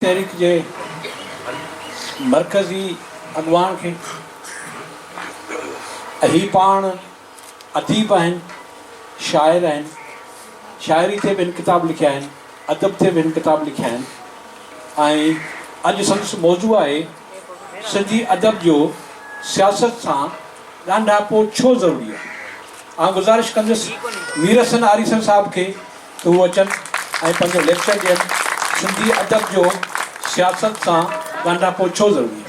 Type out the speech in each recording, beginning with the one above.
تحريڪ جي مرڪزي اڳواڻ کي هي پاڻ اديب آهن، شاعر آهن، شاعري تي به هن ڪتاب لکيا آهن، ادب تي به هن ڪتاب لکيا آهن ۽ اڄ سندس موضوع آهي سنڌي ادب جو سياست سان ڳانڍاپو ڇو ضروري آهي. آئون گذارش ڪندس ميرحسن آريسر صاحب کي. هو اچن ۽ پنهنجو ليڪچر ڏين، سنڌي ادب جو سياست سان ڳانڍاپو ڇو ضروري آهي؟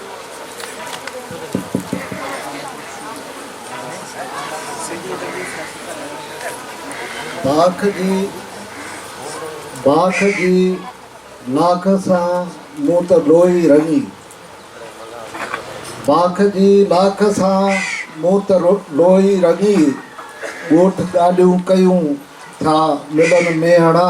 باک جي باک جي لاک سان مون ته روئي رڱي باک جي لاک سان مون ته روئي رڱي ڳوٺ ڳالهيون ڪيون ٿا ملن ميهڙا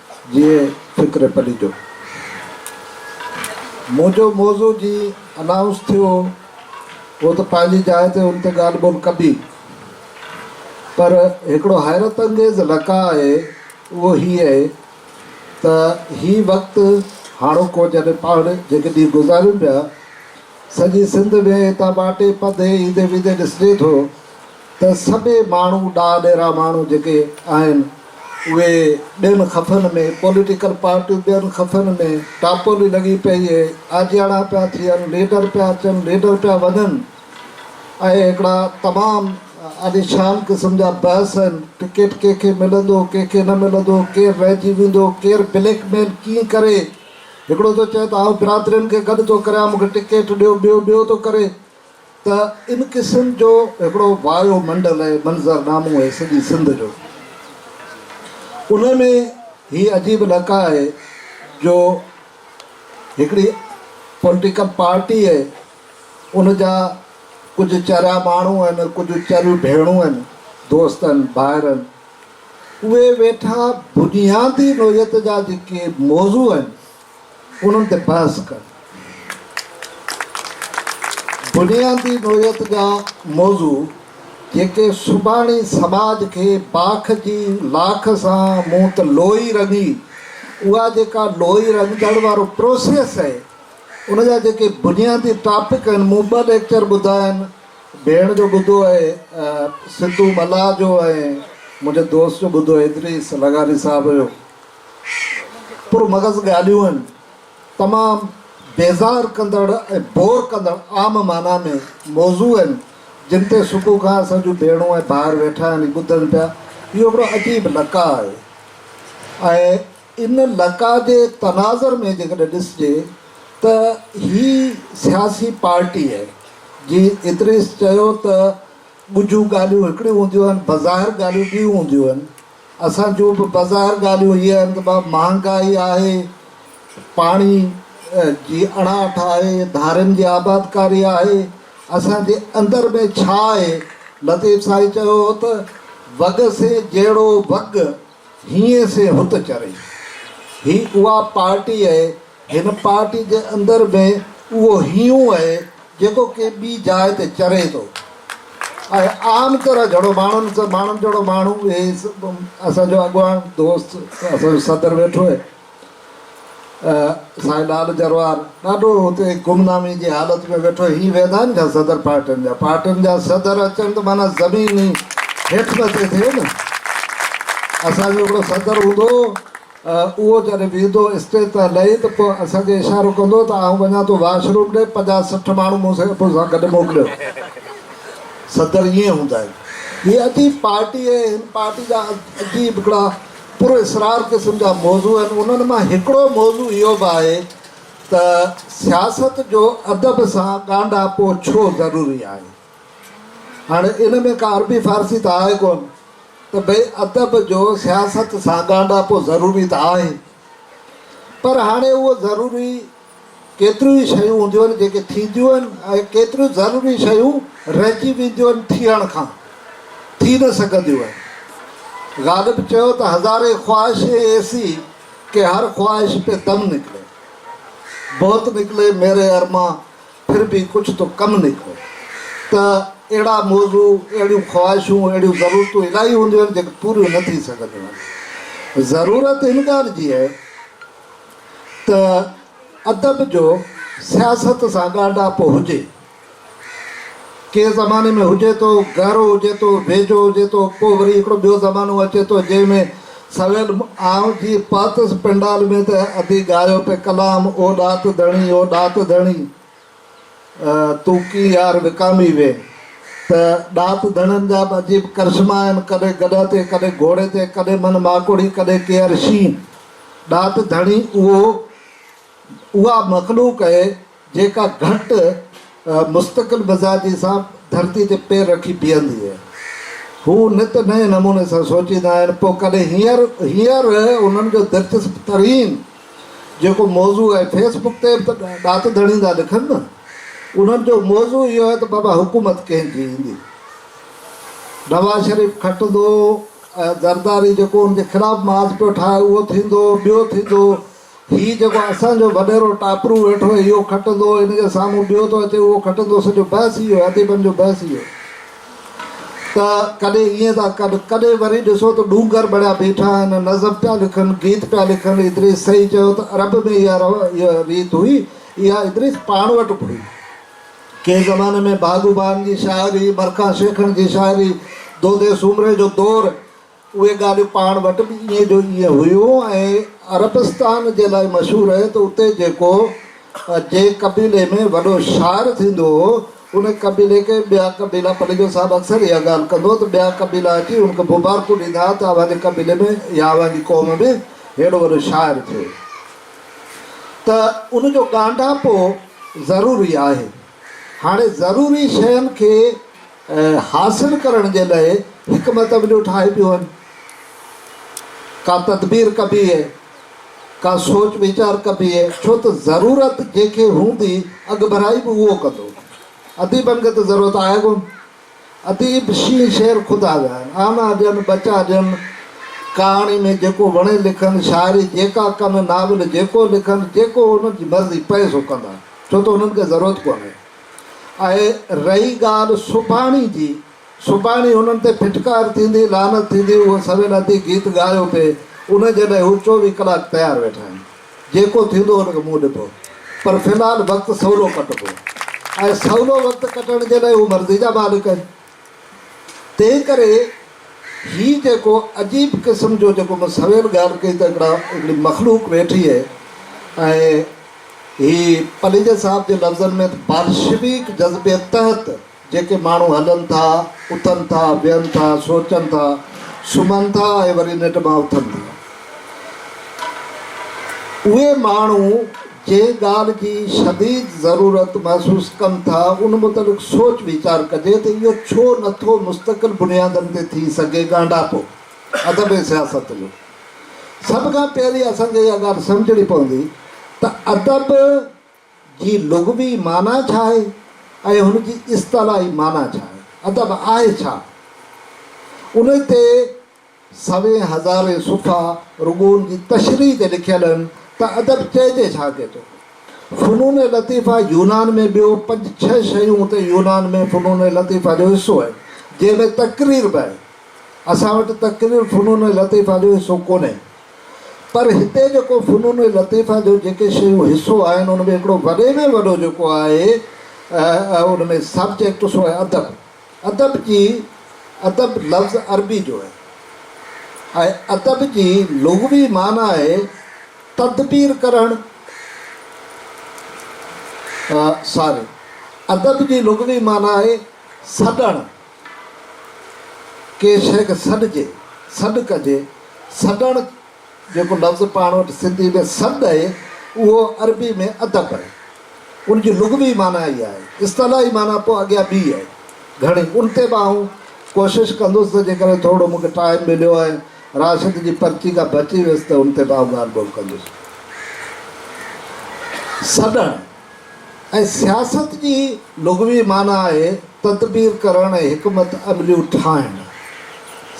جيئي فڪر پليجو. منهنجو موضوع جي انائونس ٿيو هو ته پنهنجي جاء تي ان تي ڳالهه ٻولهه ڪبي پر هڪڙو حيرت انگيز لقاء آهي اهو هي اهي ته هي وقت هاڻوڪو جڏهن پاڻ جيڪي ڏينهن گذاريون پيا سڄي سنڌ ۾ هتان ٻاٽي پڌي ايندي ويندي ڏسجي ٿو ته سڀيئي ماڻهو ڏاهه ڏيرا ماڻهو جيڪي آهن اهي ٻين خفن ۾ پوليٽيڪل پارٽيون ٻين خفن ۾ ٽاپولي لڳي پئي اهي آجياڻا پيا ٿين ليڊر پيا اچن ليڊر پيا وڃن ۽ هڪڙا تمام عاليشان قسم جا بحث آهن ٽڪيٽ ڪنهن کي ملندو ڪنهن کي نه ملندو ڪير رهجي ويندو ڪير بليڪ ميل ڪيئن ڪري هڪڙو ٿو چئي ته آئون برادرين کي گڏ ٿو ڪريان مون کي ٽڪيٽ ڏيو ٻيو ٻيو ٿو ڪري ته ان قسم جو هڪڙو وايو منڊل ۽ منظر نامو آهي سڄي سنڌ جو. ان ۾ هي عجيب لقاء آهي جو هڪڙي پوليٽيڪل پارٽي آهي، ان جا ڪجهه چريا ماڻهو آهن، ڪجهه چريون ڀيڻون آهن، دوست آهن، ڀائر آهن، اهي ويٺا بنيادي نوعيت جا جيڪي موضوع آهن، انهن تي بحث ڪن. بنيادي نوعيت جا موضوع جيڪي سڀاڻي سماج کي باک جي لاک سان مون ته لوئي رڱي اها جيڪا لوئي رڱجڻ وارو پروسيس آهي ان جا جيڪي بنيادي ٽاپڪ آهن مون ٻه ليڪچر ٻڌا آهن ڀيڻ جو ٻڌو آهي سنڌو ملاح جو ۽ منهنجي دوست جو ٻڌو آهي ادريس لغاري صاحب جو پر مغز ڳالهيون آهن، تمام بيزار ڪندڙ ۽ بور ڪندڙ عام معنيٰ ۾ موضوع آهن، جن تي صبح کان اسان جون ڀيڻون ۽ ڀائر ويٺا آهن ۽ ٻڌن پيا، اهو هڪڙو عجيب لقاء آهي ۽ ان لقاء جي تناظر ۾ جيڪڏهن ڏسجي ته هي سياسي پارٽي آهي، جيئن ادريس چيو ته ڳجهون ڳالهيون هڪڙيون هونديون آهن، بظاهر ڳالهيون ٻيون هونديون آهن. اسان جون به بظاهر ڳالهيون هي آهن ته بابا مهانگائي آهي، پاڻي جي اڻاٺ آهي، ڌارين جي آبادڪاري آهي، اسان جي اندر ۾ ڇا آهي؟ لطيف سائين چيو هو ته وڳ سي جهڙو وڳ، هينئين سي هت چري. هي اها پارٽي اهي. هن پارٽي جي اندر به اهو هيون اهي جيڪو ڪنهن ٻي جاء تي چري ٿو ۽ عام طرح جھڙو ماڻهن سان ماڻهن جھڙو ماڻهو اهي اسان جو اڳواڻ دوست اسان جو صدر ويٺو اهي سائين لال جروار ڏاڍو هتي گمنامي جي حالت ۾ ويٺو هي ويندا آهن ڇا صدر پارٽين جا پارٽين جا صدر اچن ته معنيٰ زمين هي هيٺ مٿي ٿئي نه اسان جو هڪڙو صدر هوندو اهو جڏهن ويندو اسٽيج تان لهي ته پوء اسان کي اشارو ڪندو ته آئون وڃان ٿو واش روم ڏي، پنجاهه سٺ ماڻهو مون سان گڏ موڪليو. صدر ائين هوندا آهن. هي عجيب پارٽي ۽ هن پارٽي جا عجيب هڪڙا پر اسرار قسم جا موضوع آهن. انهن مان هڪڙو موضوع اهو به آهي ته سياست جو ادب سان ڳانڍاپو ڇو ضروري آهي؟ هاڻي ان ۾ ڪا عربي فارسي ته آهي ڪونه ته ڀئي ادب جو سياست سان ڳانڍاپو ضروري ته آهي پر هاڻي اهو ضروري ڪيتريون ئي شيون هونديون آهن جيڪي ٿينديون آهن ۽ ڪيتريون ضروري شيون رهجي وينديون آهن ٿيڻ کان ٿي نه سگهنديون آهن غالب چيو ته هزارين خواهشين ايسي ڪي هر خواهش پي دم نڪلي بهت نڪلي ميري ارمان پھر بي ڪجھ تو ڪم نڪو ته اھڙا موضوع، اھڙيون خواھشون، اھڙيون ضرورتون الائي ھونديون آھن جيڪي پوريون نه ٿي سگھنديون آھن. ضرورت ھن ڳالھ جي آھي ته ادب جو سياست سان ڳانڍاپو ھجي. ڪنهن زماني ۾ هجي ٿو، گهرو هجي ٿو، ويجهو هجي ٿو، پوء وري هڪڙو ٻيو زمانو اچي ٿو جنهن ۾ سويل آئون جي پاتس پنڊال ۾ ته ادي ڳايو پئي ڪلام او ڏات ڌڻي او ڏات ڌڻي تون ڪي يار وڪامي وئي ته ڏات ڌڻين جا به عجيب ڪرشما آهن ڪڏهن گڏهه تي ڪڏهن گهوڙي تي ڪڏهن من ماڪوڙي ڪڏهن ڪيئر شينهن ڏات ڌڻي اهو اها مخلوق اهي جيڪا گهٽ مستقل مزاجي سان ڌرتي تي پير رکي بيهندي آهي. هو نت نئين نموني سان سوچيندا آهن، پوء ڪڏهن هينئر هينئر انهن جو دلچسپ ترين جيڪو موضوع آهي، فيس بڪ تي به ته ڏات ڌڻيندا لکن نه. انهن جو موضوع اهو آهي ته بابا حڪومت ڪنهن جي ايندي؟ نواز شريف کٽندو ۽ زرداري جيڪو ان جي خلاف محاذ پيو ٺاهي اهو ٿيندو، ٻيو ٿيندو. هي جيڪو اسان جو وڏيرو ٽاپرو ويٺو آهي اهو کٽندو هن جي سامهون ٻيو ٿو اچي اهو کٽندو سڄو بحث اهو آهي اديبن جو بحث اهو آهي ته ڪڏهن ائين ٿا ڪن ڪڏهن وري ڏسو ته ڏونگر بڻيا بيٺا آهن نظم پيا لکن گيت پيا لکن ادريس صحيح چيو ته عرب ۾ اها رو اها ريت هئي اها ادريس پاڻ وٽ به هئي ڪنهن زماني ۾ بهادو بان جي شاعري مرکان شيخڻ جي شاعري دودي سومري جو دور اهي ڳالهيون پاڻ وٽ به ائين جو ائين هيون ۽ عربستان جي لاء مشهور آهي ته اتي جيڪو جي قبيلي ۾ وڏو شاعر ٿيندو هو ان قبيلي کي ٻيا قبيلا پليجو صاحب اڪثر اها ڳالهه ڪندو ته ٻيا قبيلا اچي ان کي مبارڪون ڏيندا ها ته اوهان جي قبيلي ۾ يا اوهان جي قوم ۾ ههڙو وڏو شاعر ٿيو ته ان جو ڳانڍاپو ضروري آهي هاڻي ضروري شين کي حاصل ڪرڻ جي لئه حڪمت عمليون ٺاهي پيون هن ڪا تدبير ڪبي هي ڪا سوچ ويچار ڪبي هي ڇو ته ضرورت جنهن کي هوندي اڳڀرائي به اهو ڪندو اديبن کي ته ضرورت آهي ڪون اديب شينهن شير خدا جا آهن آنا ڏين ٻچا ڏين ڪهاڻي ۾ جيڪو وڻي لکن شاعري جيڪا ڪن ناول جيڪو لکن جيڪو انهن جي مرضي پئي سو ڪندا ڇو ته انهن کي ضرورت ڪونهي ۽ رهي ڳالهه سڀاڻي جي، سڀاڻي هنن تي ڦٽڪار ٿيندي، لعنت ٿيندي، اهو سوين ادي گيت ڳايو پئي، ان جي لاء هو چوويهه ڪلاڪ تيار ويٺا آهن. جيڪو ٿيندو ان کي منهن ڏبو، پر في الحال وقت سولو ڪٽبو ۽ سولو وقت ڪٽڻ جي لاء هو مرضي جا مالڪ آهن. تنهن ڪري هي جيڪو عجيب قسم جو جيڪو مون سوير ڳالهه ڪئي ته هڪڙا هڪڙي مخلوق ويٺي هي ۽ هي پليجي صاحب جي لفظن ۾ ته بالشويڪ جذبي تحت جيڪي ماڻهو هلن ٿا، اٿن ٿا، ويهن ٿا، سوچن ٿا، سمهن ٿا ۽ وري ننڊ مان اٿن ٿا، اهي ماڻهو. جنهن ڳالهه جي شديد ضرورت محسوس ڪن ٿا، ان متعلق سوچ ويچار ڪجي ته اهو ڇو نه ٿو مستقل بنيادن تي ٿي سگهي ڳانڍاپو ادب ۽ سياست جو. سڀ کان پهرين اسان کي اها ڳالهه سمجهڻي پوندي ته ادب جي لغوي معنيٰ ڇا آهي ۽ هن جي اصطلاحي معنيٰ ڇا آهي؟ ادب آهي ڇا؟ ان تي سوين هزارين صفحا رڳو ان جي تشريح تي لکيل آهن ته ادب چئجي ڇا ڪي ٿو؟ فنون لطيفه يونان ۾ ٻيو پنج ڇهه شيون اتي يونان ۾ فنون لطيفه جو حصو آهن جنهن ۾ تقرير به آهي. اسان وٽ تقرير فنون لطيفه جو حصو ڪونهي. پر هتي جيڪو فنون لطيفه جو جيڪي شيون حصو آهن ان ۾ هڪڙو وڏي ۾ وڏو جيڪو آهي ان ۾ سبجيڪٽ سو آهي ادب. ادب جي، ادب لفظ عربي جو آهي ۽ ادب جي لغوي معنيٰ آهي تدبير ڪرڻ ساري ادب جي لغوي معنيٰ آهي سڏڻ ڪنهن شيء کي سڏجي، سڏ ڪجي، سڏڻ. جيڪو لفظ پاڻ وٽ سنڌي ۾ سڏ اهي، اهو عربي ۾ ادب اهي. ان جي لغوي معنيٰ اها اهي. اصطلاحي معنيٰ پوء اڳيان ٻي اهي. گهڻي ان تي به آئون ڪوشش ڪندس ته جيڪڏهن ٿورڙو مون کي ٽائيم مليو ۽ راشد جي پرچي ڪا بچي ويس ته ان تي به آئون ڳالهه ٻولهه ڪندس. سڏڻ. ۽ سياست جي لغوي معنيٰ آهي تدبير ڪرڻ ۽ حڪمت عمليون ٺاهڻ.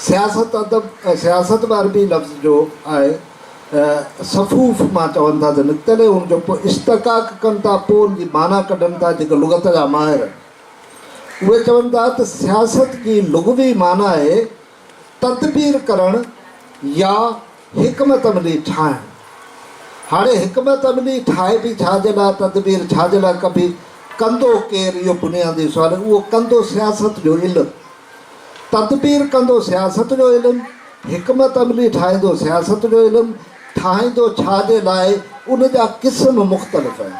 سياست ادب ۽ سياست به عربي لفظ جو آهي صفوف مان چون ٿا ته نڪتل هي ان جو پوء اشتقاق ڪن ٿا پوء ان جي معنيٰ ڪڍن ٿا جيڪي لغت جا ماهر اهي چون ٿا ته سياست جي لغوي معنيٰ آهي تدبير ڪرڻ يا حڪمت عملي ٺاهڻ. هاڻي حڪمت عملي ٺاهبي ڇا جي لاء تدبير ڇا جي لاء ڪبي، ڪندو ڪير اهو بنيادي سوال آهي، اهو ڪندو سياست جو علم، تدبير ڪندو سياست جو علم، حڪمت عملي ٺاهيندو سياست جو علم، ٺاهيندو ڇا جي لاء ان جا قسم مختلف آهن.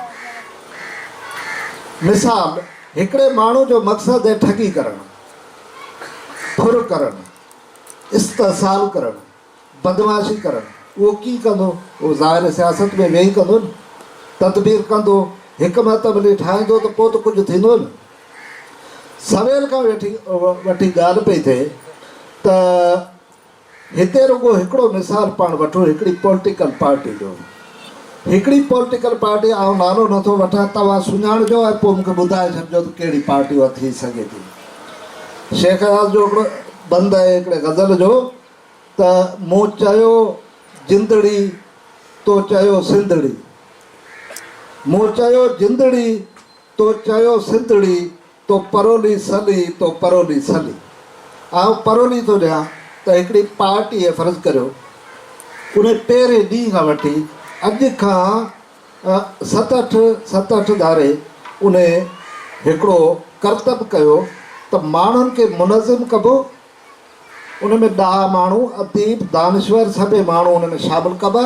مثال، هڪڙي ماڻهو جو مقصد آهي ٺڳي ڪرڻ. ڦر ڪرڻ، استحصال ڪرڻ، بدمعاشي ڪرڻ، اهو ڪيئن ڪندو؟ اهو ظاهر سياست ۾ ويهي ڪندو نه. تدبير ڪندو، حڪمت عملي ٺاهيندو ته پوء ته ڪجهه ٿيندو نه. سويل کان وٺي ڳالهه پئي ٿئي ته. هتي رڳو هڪڙو مثال پاڻ وٺو هڪڙي پولٽيڪل پارٽي جو. هڪڙي پولٽيڪل پارٽي آئون نالو نه ٿو وٺان توهان سڃاڻجو ۽ پوء مون کي ٻڌائي ڇڏجو ته ڪهڙي پارٽي اها ٿي سگهي ٿي. شيخ اياز جو هڪڙو بند آهي هڪڙي غزل جو ته مون چيو جندڙي تو چيو سنڌڙي مون چيو جندڙي تو چيو سنڌڙي. تو پرولي سلي، تو پرولي سلي. آئون پرولي ٿو ڏيان ته هڪڙي پارٽيء فرض ڪريو ان پهرين ڏينهن کان وٺي اڄ کان ست اٺ ست اٺ ڌاري ان هڪڙو ڪرتب ڪيو ته ماڻهن کي منظم ڪبو، ان ۾ ڏاها ماڻهو، اديب، دانشور، سڀيئي ماڻهو ان ۾ شامل ڪبا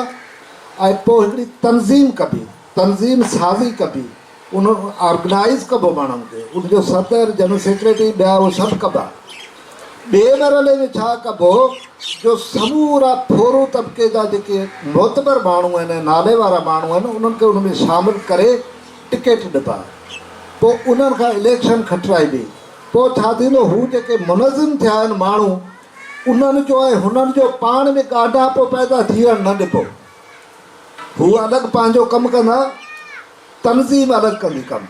۽ پوء هڪڙي تنظيم ڪبي، تنظيم سازي ڪبي، ان آرگنائيز ڪبو ماڻهن کي، ان جو صدر، جنرل سيڪريٽري، ٻيا اهي سڀ ڪبا. ٻئي مرحلي ۾ ڇا ڪبو جو سمورا ڦورو طبقي جا جيڪي معتبر ماڻهو آهن ۽ نالي وارا ماڻهو آهن، انهن کي ان ۾ شامل ڪري ٽڪيٽ ڏبا. پوء انهن کان اليڪشن کٽرائبي. پوء ڇا ٿيندو؟ هو جيڪي منظم ٿيا آهن ماڻهو انهن جو ۽ هنن جو پاڻ ۾ ڳانڍاپو پيدا ٿيڻ نه ڏبو. هو الڳ پنهنجو ڪم ڪندا، تنظيم الڳ ڪندي ڪم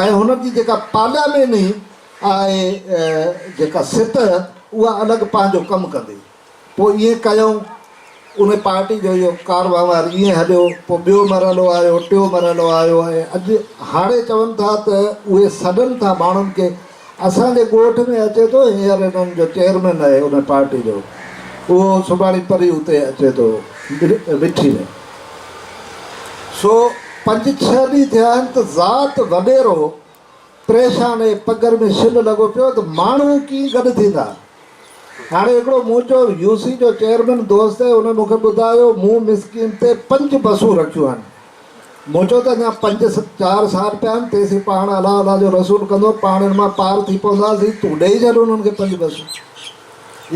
۽ هنن جي جيڪا پارلياميني آهي جيڪا سٽهه اها الڳ پنهنجو ڪم ڪندي. پوء ائين ڪيائون. ان پارٽي جو اهو ڪار وهنوار ائين هليو. پوء ٻيو مرحلو آيو، ٽيون مرحلو آيو ۽ اڄ هاڻي چون ٿا ته اهي سڏن ٿا ماڻهن کي. اسان جي ڳوٺ ۾ اچي ٿو هينئر انهن جو چيئرمين آهي ان پارٽي جو اهو سڀاڻي پري اتي اچي ٿو مٺي ۾. سو پنج ڇهه ڏينهن ٿيا آهن ته ذات وڏيرو پريشان ۽ پگهر ۾ شل لڳو پيو ته ماڻهو ڪيئن گڏ ٿيندا. هاڻي هڪڙو منهنجو يو سي جو چيئرمين دوست هي، ان مون کي ٻڌايو، مون مسڪين تي پنج بسون رکيون آهن. مون چيو ته اڃا پنج چار سال پيا آهن، تيسين پاڻ الله الله جو رسول ڪندو، پاڻ ان مان پار ٿي پونداسين، تون ڏيئي ڇڏ انهن کي پنج بسون.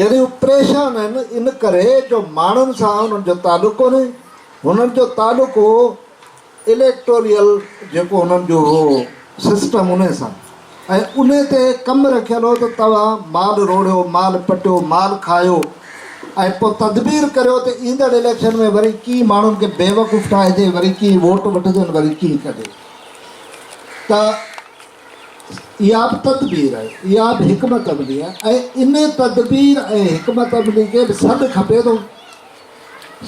يعني هو پريشان آهن ان ڪري جو ماڻهن سان انهن جو تعلق ڪونهي، هنن جو تعلق هو. اليڪٽوريل جيڪو انهن جو هو سسٽم انهي سان ۽ انهي تي ڪم رکيل هو ته توهان مال روڙيو مال پٽيو مال کايو ۽ پوء تدبير ڪريو ته ايندڙ اليڪشن ۾ وري ڪيئن ماڻهن کي بيوقوف ٺاهجي وري ڪيئن ووٽ وٺجن وري ڪيئن ڪڍي ته اها به تدبير آهي اها به حڪمت عملي آهي ۽ انهي تدبير ۽ حڪمت عملي کي به سڏ کپي ٿو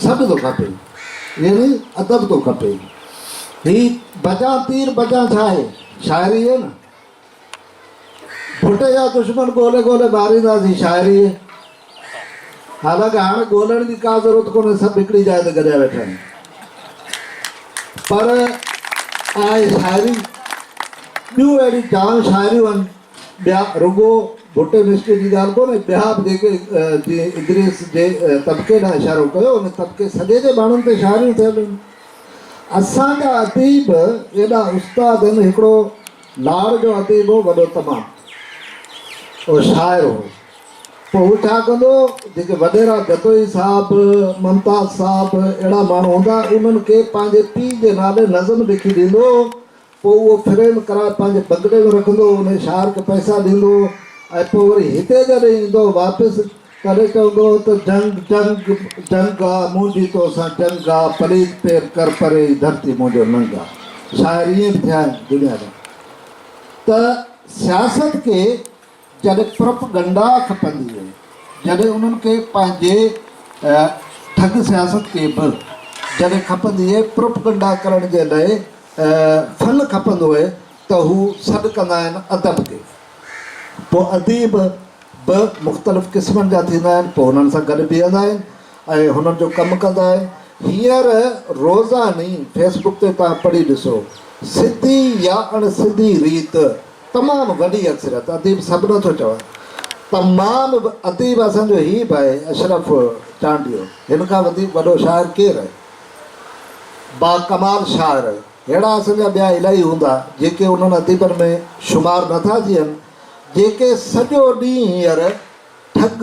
سڀ ٿو کپي يعني ادب ٿو کپي هي بجان تير بجان ڇا آهي شاعري آهي نه ڀٽي جا دشمن ڳولي ڳولي مارينداسين شاعري آهي حالانڪ هاڻي ڳولڻ جي ڪا ضرورت ڪونهي سڀ هڪڙي جاء تي گڏيا ويٺا آهن پر آهي شاعري ٻيون اهڙيون جام شاعريون آهن ٻيا رڳو ڀٽو نشتر جي ڳالهه ڪونهي، ٻيا به جيڪي جيئن ادريس جي طبقي ڏانهن اشارو ڪيو، ان طبقي سڄي جي ماڻهن تي شاعريون ٿيل هيون. اسان جا اديب ايڏا استاد هن هڪڙو لاڙ جو اديب هو وڏو تمام او شاعر هو پوء هو ڇا ڪندو جيڪي وڏيرا جتوئي صاحب ممتاز صاحب اهڙا ماڻهو هوندا انهن کي پنهنجي پيء جي نالي نظم لکي ڏيندو هو پوء اهو فريم ڪراء پنهنجي بگڙي ۾ رکندو هو، انهيء شاهر کي پئسا ڏيندو هو ۽ پوء وري هتي جڏهن ايندو هو واپس، تڏهن چوندو هو ته جنگ، جنگ، جنگ آ منهنجي تو سان جنگ آ، پليت پير ڪر پري هي ڌرتي منهنجو ننگ آ. شاعر ائين به ٿيا آهن دنيا ۾ ته سياست کي. جڏهن پرپ گنڊا کپندي هئي، جڏهن انهن کي پنهنجي ٺڳ سياست کي به جڏهن کپندي هئي، پرپ گنڊا ڪرڻ جي لئه فن کپندو هئي ته هو سڏ ڪندا آهن ادب کي. پوء اديب به مختلف قسمن جا ٿيندا آهن، پوء انهن سان گڏ بيهندا آهن ۽ هنن جو ڪم ڪندا آهن. هينئر روزاني فيس بڪ تي توهان پڙهي ڏسو، سڌي يا اڻ سڌي ريت، تمام وڏي اڪثريت اديب سڀ نه ٿو چوان تمام اديب اسان جو هي به آهي اشرف چانڊيو هن کان وڌيڪ وڏو شاعر ڪير آهي با ڪمال شاعر آهي ههڙا اسان جا ٻيا الائي هوندا جيڪي انهن اديبن ۾ شمار نه ٿا ٿين جيڪي سڄو ڏينهن هينئر ٺڳ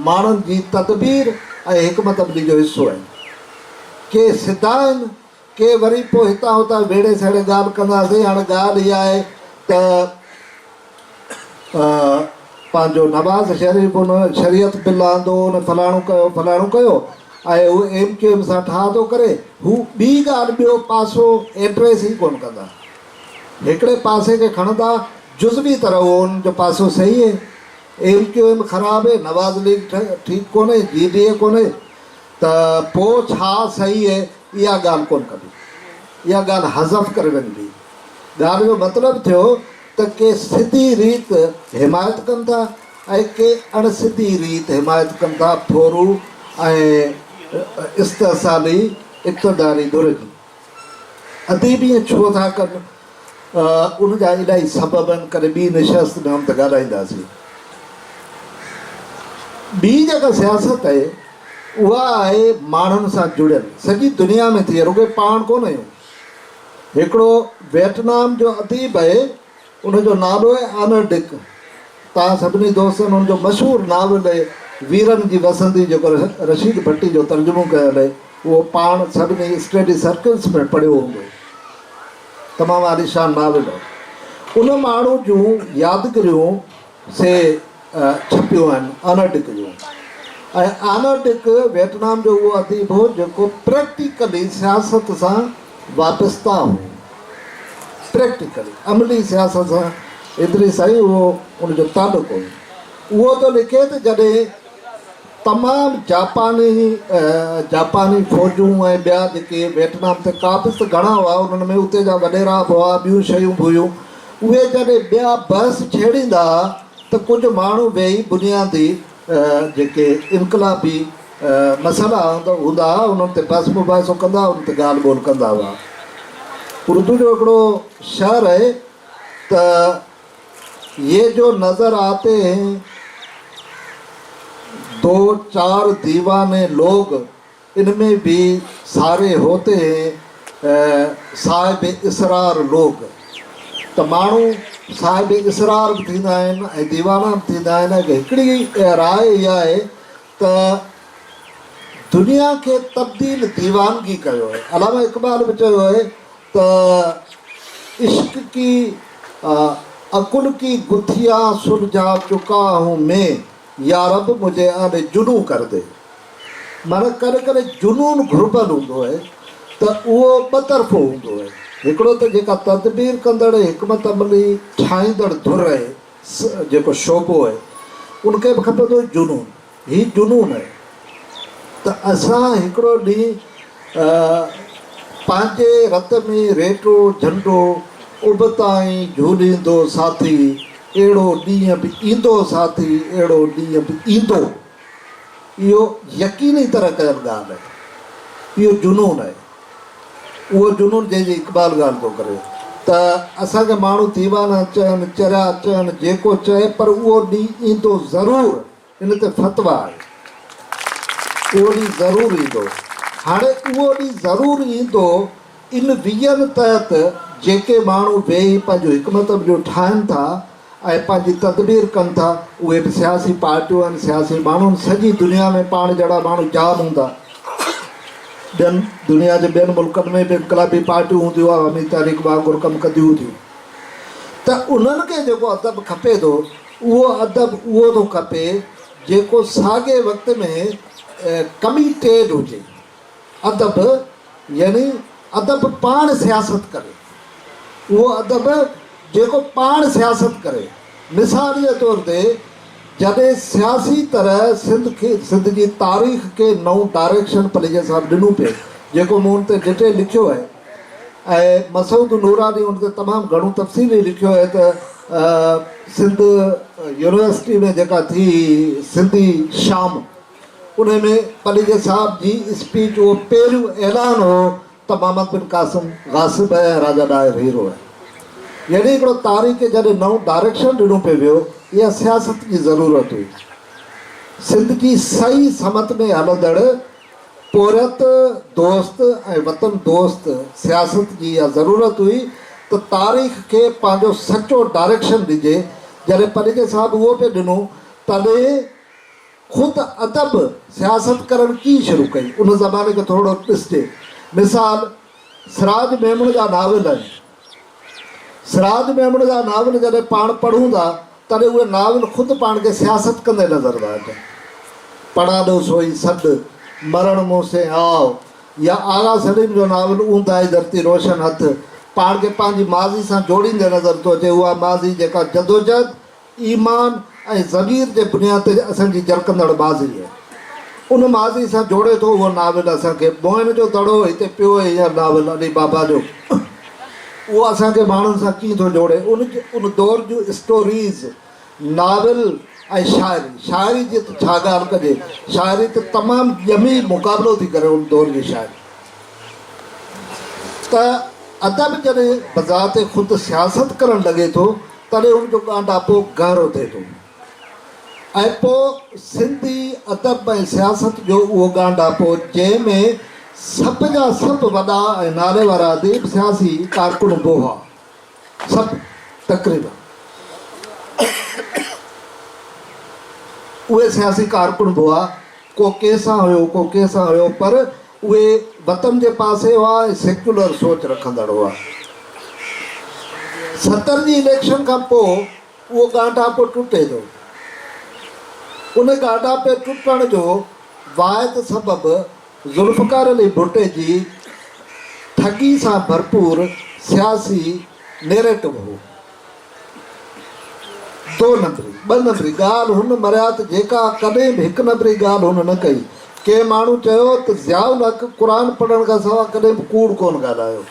ماڻهن جي تدبير ۽ حڪمت عملي جو حصو آهن ڪي سڌا آهن ڪي وري پوء هتان هتان ويڙهي سهيڙي ڳالهه ڪنداسين. هاڻي ڳالهه اها آهي ته پنهنجو نواز شريف ان شريعت بل آندو، ان فلاڻو ڪيو فلاڻو ڪيو ۽ هو ايم ڪيو ايم سان ٺاهه ٿو ڪري. هو ٻي ڳالهه ٻيو پاسو ايڊريس ئي ڪونه ڪندا. هڪڙي پاسي کي کڻندا جزوي طرح اهو انهن جو پاسو صحيح اهي، ايم ڪيو ايم خراب اهي، نواز ليگ ٺيڪ ڪونهي، جي ڊي اي ڪونهي. ته پوء ڇا سهي اها ڳالهه ڪونه ڪبي؟ اها ڳالهه حذف ڪري وڃبي. ڳالهه جو مطلب ٿيو ته ڪي سڌي ريت حمايت ڪن ٿا ۽ ڪي اڻ سڌي ريت حمايت ڪن ٿا ٿورو ۽ استحصالي اقتداري ڌر جي. اديب ائين ڇو ٿا ڪن؟ ان جا الائي سبب آهن، ڪڏهن ٻي نشست ۾ هم ته ڳالهائينداسين. ٻي جيڪا سياست آهي، اها آهي ماڻهن سان جڙيل، سڄي دنيا ۾ ٿئي، رڳو پاڻ ڪونه آهيون. هڪڙو ويٽنام جو اديب آهي، ان جو نالو آهي آنر ڊڪ. توهان سڀني دوستن ان جو مشهور ناول ويرن جي وسندي جيڪو رشيد ڀٽي جو ترجمو ڪيل آهي اهو پاڻ سڀني اسٽيڊي سرڪلس ۾ پڙهيو هوندو. تمام عاليشان ناول آهي. ان ماڻهو جون يادگريون سي ڇپيون آهن آنا ڊڪ جون ۽ آنا ڊڪ ويٽنام جو اهو اديب هو جيڪو پريڪٽيڪلي سياست سان وابسته هو پريڪٽيڪلي عملي سياست سان ايتري سائين اهو ان جو تعلق هو اهو ٿو لکي ته جڏهن تمام جاپاني جاپاني فوجون ۽ ٻيا جيڪي ويٽنام تي قابض ته گهڻا هئا انهن ۾ اتي جا وڏيرا به هئا ٻيون شيون به هيون اهي جڏهن ٻيا بحث ڇيڙيندا ها ته ڪجهه ماڻهو ويهي بنيادي جيڪي انقلابي مسئلا هوندا ها انهن تي بحث مباحثو ڪندا هئا انهن تي ڳالهه ٻولهه ڪندا هئا اردو جو هڪڙو شعر آهي ته يي جو نظر آتي هين دو چار ديواني لوگ ان مين ڀي ساري هوتي هين صاحب اسرار لوگ ته ماڻهو صاحب اسرار به ٿيندا آهن ۽ ديوانا به ٿيندا آهن ۽ هڪڙي راء اها آهي ته دنيا کي تبديل ديوانگي ڪيو آهي علامه اقبال به چيو آهي ته عشق ڪي عقل ڪي گٿيا سلجھا چڪا ھون مين يارب مجھي آن جنون ڪر دي معنيٰ ڪڏھن ڪڏھن جنون گھربل ھوندو آھي ته اھو ٻه طرفو ھوندو آھي ھڪڙو ته جيڪا تدبير ڪندڙ حڪمت عملي ٺاھيندڙ ڌر آھي جيڪو شعبو آھي ان کي به کپندو جنون هي جنون آهي ته اسان هڪڙو ڏينهن پنهنجي رت ۾ ريٽو جهنڊو ابتائين جهوليندو ساٿي اهڙو ڏينهن به ايندو ساٿي اهڙو ڏينهن به ايندو اهو يقيني طرح ڪيل ڳالهه آهي اهو جنون آهي اهو جنون جنهن جي اقبال ڳالهه ٿو ڪري ته اسان کي ماڻهو ديوانا چون چريا چون جيڪو چون پر اهو ڏينهن ايندو ضرور ان تي فتويٰ آهي. اهو ڏينهن ضرور ايندو. هاڻي اهو ڏينهن ضرور ايندو ان ويزن تحت جيڪي ماڻهو ويهي پنهنجو حڪمت عمليون ٺاهن ٿا ۽ پنهنجي تدبير ڪن ٿا اهي به سياسي پارٽيون آهن سياسي ماڻهو آهن سڄي دنيا ۾ پاڻ جهڙا ماڻهو جام هوندا ٻين دنيا جي ٻين ملڪن ۾ به انقلابي پارٽيون هونديون عوامي تحريڪ وانگر ڪم ڪنديون هونديون ته انهن کي جيڪو ادب کپي ٿو اهو ادب اهو ٿو کپي جيڪو ساڳئي وقت ۾ ڪميٽيڊ هجي. ادب يعني ادب پاڻ سياست ڪري. اهو ادب جيڪو پاڻ سياست ڪري. مثال جي طور تي جڏهن سياسي طرح سنڌ جي تاريخ کي نئون ڊائريڪشن پليجر صاحب ڏنو پئي جيڪو مون تي ڊٽيل لکيو آهي. ۽ مسعود نوراني ان تي تمام گهڻو تفصيلي لکيو آهي ته سنڌ يونيورسٽي ۾ جيڪا ٿي سنڌي شام ان ۾ پليجي صاحب جي اسپيچ اهو پهريون اعلان هو ته محمد بن قاسم غاصب هي ۽ راجا ڏاهر هيرو هي يعني هڪڙو تاريخ کي جڏهن نئون ڊائريڪشن ڏنو پئي ويو اها سياست جي ضرورت هئي سنڌ جي سعي سمت ۾ هلندڙ پورهيت دوست ۽ وطن دوست سياست جي اها ضرورت هئي ته تاريخ کي پنهنجو سچو ڊائريڪشن ڏجي، جڏهن پنهنجي صاحب اهو پئي ڏنو تڏهن خود ادب سياست ڪرڻ ڪيئن شروع ڪئي ان زماني کي ٿورڙو ڏسجي. مثال سراج ميمڻ جا ناول آهن. سراج ميمڻ جا ناول جڏهن پاڻ پڙهون ٿا تڏهن اهي ناول خود پاڻ کي سياست ڪندي نظر ٿا اچن. پڙاڏو سوئي سڏ، مرڻ مون سين آء يا آغا سليم جو ناول اونداهي ڌرتي روشن هٿ پاڻ کي پنهنجي ماضي سان جوڙيندي نظر ٿو اچي اها ماضي جيڪا جدوجهد، ايمان ۽ ضمير جي بنياد تي اسان جي جرڪندڙ ماضي هي. ان ماضي سان جوڙي ٿو اهو ناول اسان کي. موهن جو دڙو هتي پيو هينئر ناول علي بابا جو. اهو اسان کي ماڻهن سان ڪيئن ٿو جوڙي. ان دور جون اسٽوريز، ناول ۽ شاعري. شاعري جي ته ڇا ڳالهه ڪجي. شاعري ته تمام ڄمي مقابلو ٿي ڪري ان دور جي شاعري. ته ادب جڏهن بذات خود سياست ڪرڻ لڳي ٿو. تڏهن ان جو ڳانڍاپو گهرو ٿئي ٿو ۽ پوء سنڌي ادب ۽ سياست جو اهو ڳانڍاپو جنهن ۾ سڀ جا سڀ وڏا ۽ نالي وارا اديب سياسي ڪارڪن به هئا سڀ تقريبن اهي سياسي ڪارڪن به هئا ڪو ڪنهن سان هيو ڪو ڪنهن سان هيو پر اهي وطن جي پاسي هئا ۽ سيڪيولر سوچ رکندڙ هئا. ستر جي اليڪشن کان پوء اهو ڳانڍاپو ٽٽي ٿو. ان ڳانڍاپي ٽٽڻ جو واحد سبب ذوالفقار علي ڀٽي جي ٺڳي سان ڀرپور سياسي نيريٽو هو. دو نمبري، ٻه نمبري، ڳالهه هن مريات جيڪا ڪڏهن به هڪ نمبري ڳالهه هن نه ڪئي. ڪنهن ماڻهو چيو ته ضياء الحق قرآن پڙهڻ کان سوا ڪڏهن به ڪوڙ ڪونه ڳالهايو.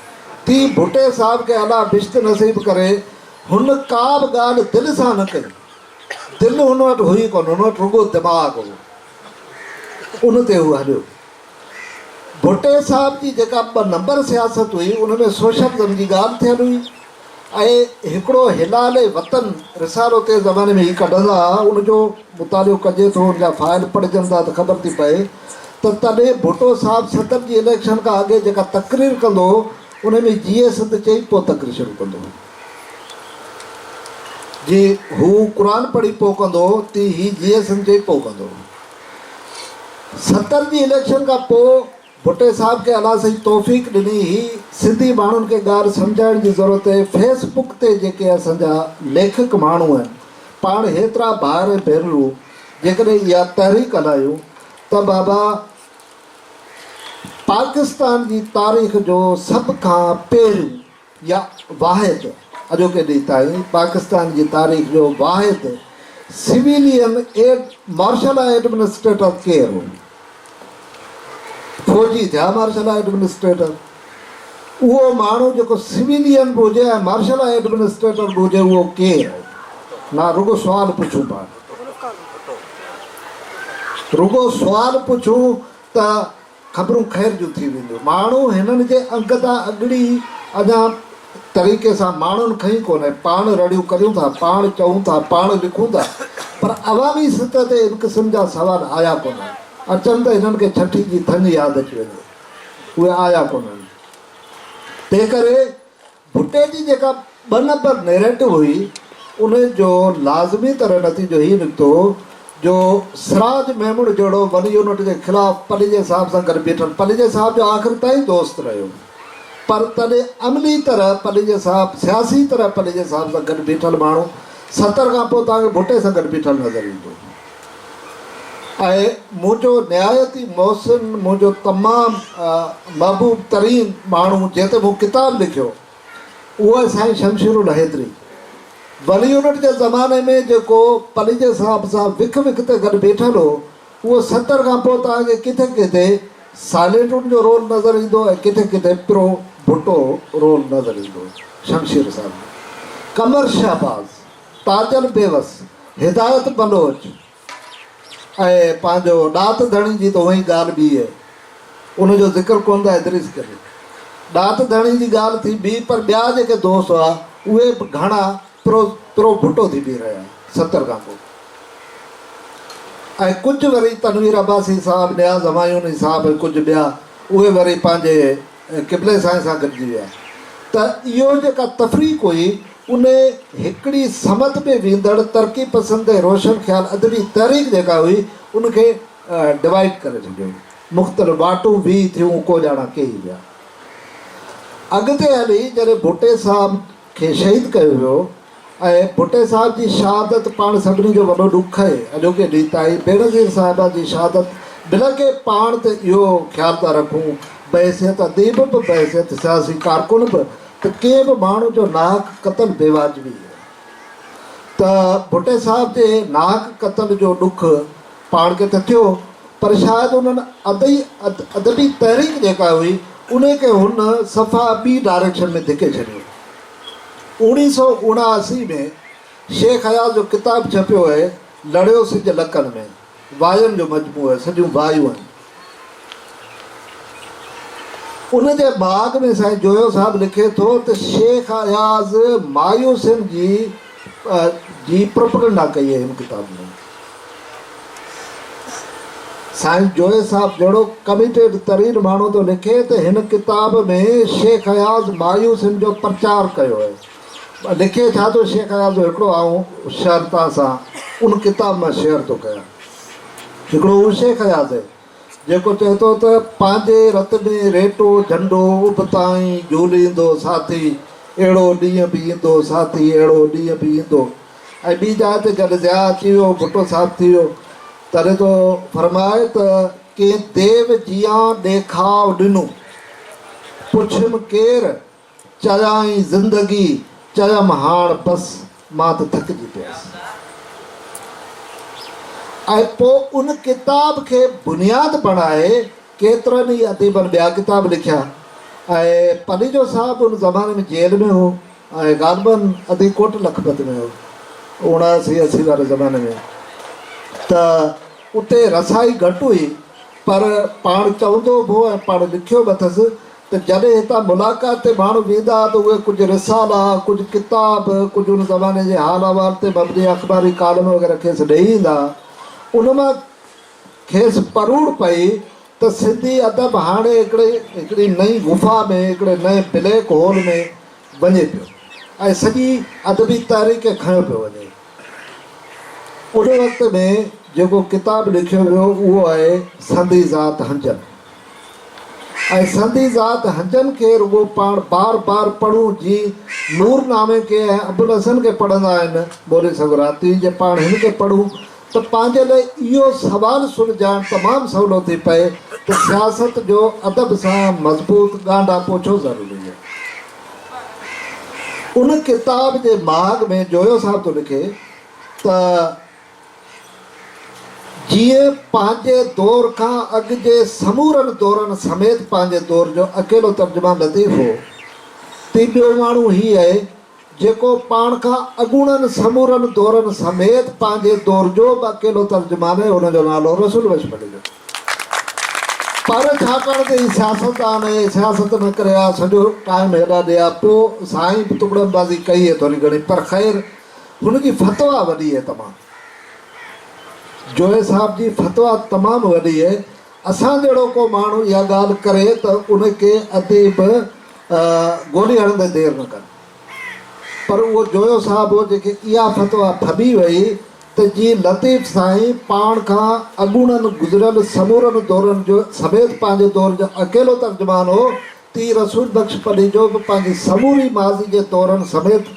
تي ڀٽي صاحب کي الله بهشت نصيب ڪري هن ڪا به ڳالهه دل سان نه ڪئي. دل هن وٽ هئي ڪونه، هن وٽ رڳو دماغ هو. ان تي هو هليو. ڀٽي صاحب جي جيڪا ٻه نمبر سياست هئي ان ۾ سوشلزم جي ڳالهه ٿيل هئي. ۽ هڪڙو هلال وطن رسالو تنهن زماني ۾ هي ڪڍندا ها، ان جو مطالعو ڪجي ٿو، ان جا فائل پڙهجن ٿا ته خبر ٿي پئي ته تڏهن ڀٽو صاحب صدر جي اليڪشن کان اڳي جيڪا تقرير ڪندو هو، ان ۾ جيئي سنڌ چئي پوء تقرير شروع ڪندو هو. جي هو قرآن پڙهي پوء ڪندو هو، تي هي جيئي سنڌ چئي پوء ڪندو هو. صدر جي اليڪشن کان پوء ڀٽي صاحب کي الله سائين توفيق ڏني هي سنڌي ماڻهن کي ڳالهه سمجهائڻ جي ضرورت اهي فيس بڪ تي جيڪي اسان جا ليکڪ ماڻهو آهن پاڻ هيترا ڀائر ۽ ڀينرو جيڪڏهن اها تحريڪ هلايون ته بابا پاڪستان جي تاريخ جو سڀ کان پهريون يا واحد اڄوڪي ڏينهن تائين پاڪستان جي تاريخ جو واحد سويلين ايئر مارشل ايڊمنسٽريٽر ڪير هو؟ فوجي ٿيا مارشل ايڊمنسٽريٽر. اهو ماڻهو جيڪو سويلين به هجي ۽ مارشل ايڊمنسٽريٽر به هجي اهو ڪير؟ نا رڳو سوال پڇون پاڻ رڳو سوال پڇون ته خبرون خير جون ٿي وينديون. ماڻهو هنن جي انگ تان اڳڙي اڃا طريقي سان ماڻهن کنئي ڪونهي. پاڻ رڙيون ڪريون ٿا، پاڻ چئون ٿا، پاڻ لکون ٿا پر عوامي سطح تي ان قسم جا سوال آيا ڪونهن. اچن ته هنن کي ڇٺي جي ٿڃ ياد اچي وڃي. اهي آيا ڪونهن. تنهن ڪري ڀٽي جي جيڪا ٻه نمبر نيريٽو هئي، ان جو لازمي طرح نتيجو هي نڪتو جو سراج ميمڻ جهڙو ون يونٽ جي خلاف پليجي صاحب سان گڏ بيٺل پليجي صاحب جو آخر تائين دوست رهيو پر تڏهن عملي طرح پليجي صاحب سياسي طرح پليجي صاحب سان گڏ بيٺل ماڻهو ستر کان پوء توهان کي ڀٽي سان گڏ بيٺل نظر ايندو. ۽ منهنجو نهايت ئي محسن، منهنجو تمام محبوب ترين ماڻهو جنهن تي مون ڪتاب لکيو اهو آهي سائين شمشير الحيدري. ولي يونٽ جي زماني ۾ جيڪو پليجي صاحب سان وک وک تي گڏ بيٺل هو اهو ستر کان پوء توهان کي ڪٿي ڪٿي ساليٽون جو رول نظر ايندو ۽ ڪٿي ڪٿي پرو ڀٽو رول نظر ايندو. شمشير صاحب جو قمر شهباز. تاجل بيوس، هدايت بلوچ ۽ پنهنجو ڏات ڌڻي جي ته هونئن ئي ڳالهه ٻيئي آهي. ان جو ذڪر ڪونه ٿا ادريس ڪري. ڏات ڌڻي جي ڳالهه ٿي بيهي پر ٻيا جيڪي دوست هئا اهي به گهڻا پرو پرو ڀٽو ٿي بيهي رهيا ستر کان پوء ۽ ڪجهه وري تنوير عباسي صاحب نياز همايوني صاحب ۽ ڪجهه ٻيا اهي وري پنهنجي ۽ قبلي سائين سان گڏجي ويا ته اهو جيڪا تفريق هئي ان هڪڙي سمت ۾ ويندڙ ترقي پسند ۽ روشن خيال ادبي تحريڪ جيڪا هئي ان کي ڊوائيڊ ڪري ڇڏيو مختلف واٽون ويهي ٿيون ڪوڄاڻا ڪيئي ويا اڳتي هلي جڏهن ڀٽي صاحب کي شهيد ڪيو ويو ۽ ڀٽي صاحب جي شهادت پاڻ سڀني جو وڏو ڏک آهي، اڄوڪي ڏينهن تائين بينظير صاحبه جي شهادت بلڪه پاڻ تي اهو خيال ٿا رکون بحيثيت اديب به بحيثيت سياسي ڪارڪن به ته ڪنهن به ماڻهو جو ناحق قتل بي واجبي ته ڀٽي صاحب جي ناحق قتل جو ڏک پاڻ کي ته ٿيو پر شايد انهن ادئي ادبي تحريڪ جيڪا هئي انهي کي هن صفا ٻي ڊائريڪشن ۾ ڌڪي ڇڏيو. اوڻيهه سؤ اڻااسي ۾ شيخ اياز جو ڪتاب ڇپيو اهي لڙيو سج لڪن ۾، واين جو مجموعو اهي سڄيون وايون آهن. ان جي بعد ۾ سائين جويو صاحب لکي ٿو ته شيخ اياز مايوسين جي جي پروپگنڊا ڪئي آهي هن ڪتاب ۾ سائين جويو صاحب جهڙو ڪميٽيڊ ترين ماڻهو ٿو لکي ته هن ڪتاب ۾ شيخ اياز مايوسين جو پرچار ڪيو آهي لکي ٿا ته شيخ اياز جو هڪڙو آئون شعر توهان سان ان ڪتاب مان شيئر ٿو ڪيان. هڪڙو اهو شيخ اياز آهي، جيڪو چئي ٿو ته پنهنجي رت ۾ ريٽو جهنڊو اڀتائين جهوليندو ساٿي، اهڙو ڏينهن به ايندو ساٿي، اهڙو ڏينهن به ايندو. ۽ ٻي جاء تي جڏهن ضياء اچي ويو، ڀٽو صاحب ٿي ويو، تڏهن ٿو فرمائي ته ڪنهن ديو جيان ڏيکاء ڏنو، پڇيم ڪير؟ چيائين زندگي چيم هاڻ بس مان ته ٿڪجي پيس ۽ پوء ان ڪتاب کي بنياد بڻائي ڪيترن ئي اديبن ٻيا ڪتاب لکيا ۽ پليجو صاحب ان زماني ۾ جيل ۾ هو ۽ غالباً ادي ڪوٽ لکپت ۾ هو اوڻاسي اسي واري زماني ۾ ته اتي رسائي گهٽ هئي پر پاڻ چوندو به هو ۽ پاڻ لکيو به اٿس ته جڏهن هتان ملاقات تي ماڻهو ويندا ها ته اهي ڪجهه رسالا، ڪجهه ڪتاب، ڪجهه ان زماني جي حال احوال تي مبني اخباري ڪالم وغيره کيس ڏئي ايندا ها. ان مان کيس پروڙ پئي ته سنڌي ادب هاڻي هڪڙي هڪڙي نئين غفا ۾ هڪڙي نئين بليڪ هول ۾ وڃي پيو ۽ سڄي ادبي تحريڪ کي کنيو پيو وڃي. ان وقت ۾ جيڪو ڪتاب لکيو ويو اهو آهي سندي ذات هنجن ۽ سندي ذات هنجن کي رڳو پاڻ بار بار پڙهون جي نور نامي کي ۽ ابوالحسن کي پڙهندا آهن مولوي سقراطي جي پاڻ هن کي پڙهون ته پنهنجي لاء اهو سوال سلجهائڻ تمام سولو ٿي پئي ته سياست جو ادب سان مضبوط ڳانڍاپو ڇو ضروري آهي؟ ان ڪتاب جي مهاڳ ۾ جويو صاحب ٿو لکي ته، جيئن پنهنجي دور کان اڳ جي سمورن دورن سميت پنهنجي دور جو اڪيلو ترجمان لطيف هو، تي ٻيو ماڻهو هي اهي، جيڪو پاڻ کان اڳوڻن سمورن دورن سميت پنهنجي دور جو به اڪيلو ترجمان اهي، ان جو نالو رسول بخش ڀٽي جو. پر ڇاڪاڻ ته هي سياستدان اهي سياست نه ڪري ها سڄو ٽائيم هيڏا ڏي ها پو سائين به تڪڙن بازي ڪئي هي ٿوري گهڻي پر خير هن جي فتويٰ وڏي هي تمام جويي صاحب جي فتويٰ تمام وڏي هي اسان جهڙو ڪو ماڻهو اها ڳالهه ڪري ته ان کي اديب گولي هڻندي دير نه ڪن. پر اهو جويو صاحب هو جنهنکي اها فتويٰ ڦٻي ويئي ته جي لطيف سائين پاڻ کان اڳوڻن گذريل سمورن دورن جو سميت پنهنجي دور جو اڪيلو ترجمان هو ته ائين رسول بخش پليجو به پنهنجي سموري ماضي جي دورن سميت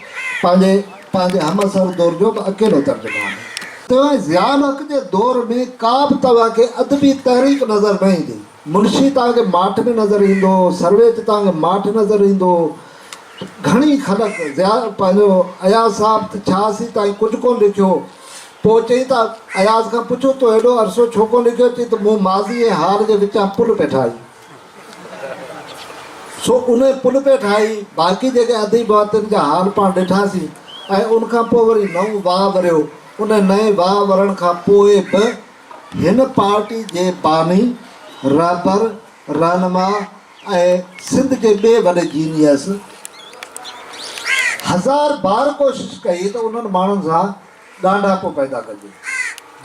پنهنجي پنهنجي همعصر دور جو به اڪيلو ترجمان هو. سواء ضياء الحق جي دور ۾ ڪا به توهان کي ادبي تحريڪ نظر نه ايندي. منشي توهان کي ماٺ ۾ نظر ايندو، سروي تي توهان کي ماٺ نظر ايندو. گهڻي خلق، ضياء پنهنجو اياز صاحب ته ڇا سين تائين ڪجهه ڪونه لکيو. پوء چئين ته اياز کان پڇو تو هيڏو عرصو ڇو ڪونه لکيو؟ چئين ته مون ماضي ۽ حال جي وچان پل پئي ٺاهي. سو ان پل پئي ٺاهي. باقي جيڪي اديب هئا تن جا حال پاڻ ڏٺاسين ۽ ان کان پوء وري نئون واهه وريو. ان نئين واهه ورڻ کان پوء به هن پارٽي جي باني، رهبر، رهنما ۽ سنڌ جي ٻئي وڏي جينيس هزار بار ڪوشش ڪئي ته انهن ماڻهن سان ڳانڍاپو پيدا ڪجي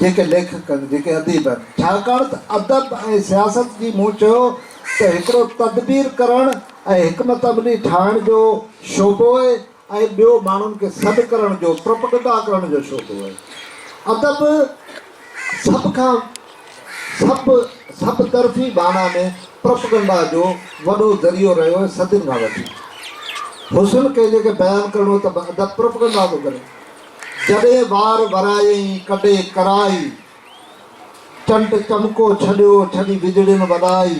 جيڪي ليکڪن جيڪي اديبن ڇاڪاڻ ته ادب ۽ سياست جي مون چيو ته هڪڙو تدبير ڪرڻ ۽ حڪمت عملي ٺاهڻ جو شعبو ۽ ٻيو ماڻهن کي سڏ ڪرڻ جو پروپگنڊا ڪرڻ جو شوق هو. ادب سڀ کان سڀ سڀ طرفي معنيٰ ۾ پروپگنڊا جو وڏو ذريعو رهيو آهي صدين کان وٺي. حسن ڪنهنجي کي بيان ڪرڻو ته به ادب پروپگنڊا ٿو ڪري. جڏهن وار ورايئي ڪڍي ڪرائي، چنٽ چمڪو ڇڏيو ڇڏي وڄڙين وڏائي.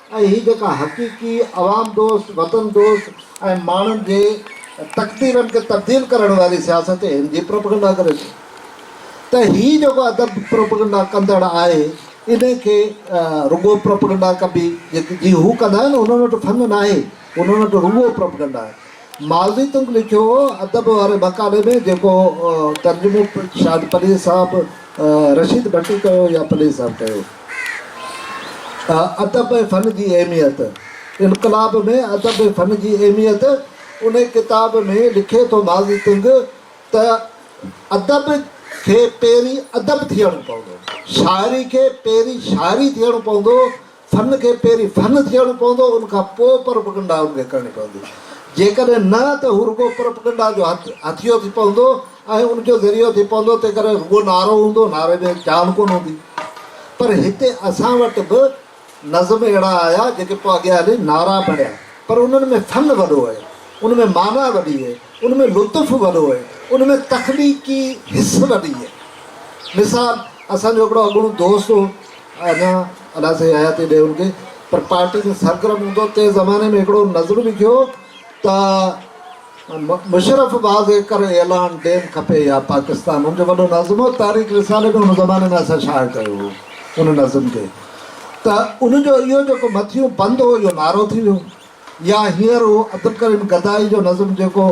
۽ هي جيڪا حقيقي عوام دوست، وطن دوست ۽ ماڻهن جي تقديرن کي تبديل ڪرڻ واري سياست هن جي پروپيگنڊا ڪري ٿي ته هي جيڪو ادب پروپيگنڊا ڪندڙ آهي انهي کي رڳو پروپيگنڊا ڪبي جي هو ڪندا آهن انهن وٽ ڦڱ ناهي انهن وٽ رڳو پروپيگنڊا آهي. مالدي تنگ لکيو هو ادب واري مقالي ۾ جيڪو ترجمو شايد پليجي صاحب رشيد ڀٽي ڪيو يا پليجي صاحب ڪيو. ادب ۽ فن جي اهميت انقلاب ۾ ادب ۽ فن جي اهميت ان ڪتاب ۾ لکي ٿو مالدي تنگ ته ادب کي پهرين ادب ٿيڻو پوندو شاعري کي پهرين شاعري ٿيڻو پوندو فن کي پهرين فن ٿيڻو پوندو ان کان پوء پرپگنڊا ان کي ڪرڻي پوندي جيڪڏهن نه ته هو رڳو پرپگنڊا جو هٿيو ٿي پوندو ۽ ان جو ذريعو ٿي پوندو تنهن ڪري رڳو نعرو هوندو نعري ۾ جان ڪونه هوندي پر هتي اسان وٽ به نظم اهڙا آيا جيڪي پوء اڳيان هلي نعرا بڻيا پر انهن ۾ فن وڏو هي ان ۾ معنيٰ وڏي هي ان ۾ لطف وڏو هي ان ۾ تخليقي حس وڏي هي مثال اسان جو هڪڙو اڳوڻو دوست هو اڃا ادا سائين آيا تي ڏي ان کي پر پارٽي جو سرگرم هوندو تنهن زماني ۾ هڪڙو نظم لکيو ته مشرف باز ايڪر اعلان ڊيم کپي يا پاڪستان ان جو وڏو نظم هو تاريخ رسالي ۾ ان زماني ۾ اسان شايع ڪيو هو ان نظم کي ته ان جو اهو جيڪو مٿيون بند هو اهو نعرو ٿي ويو يا هينئر هو عبدالڪريم گدائي جو نظم جيڪو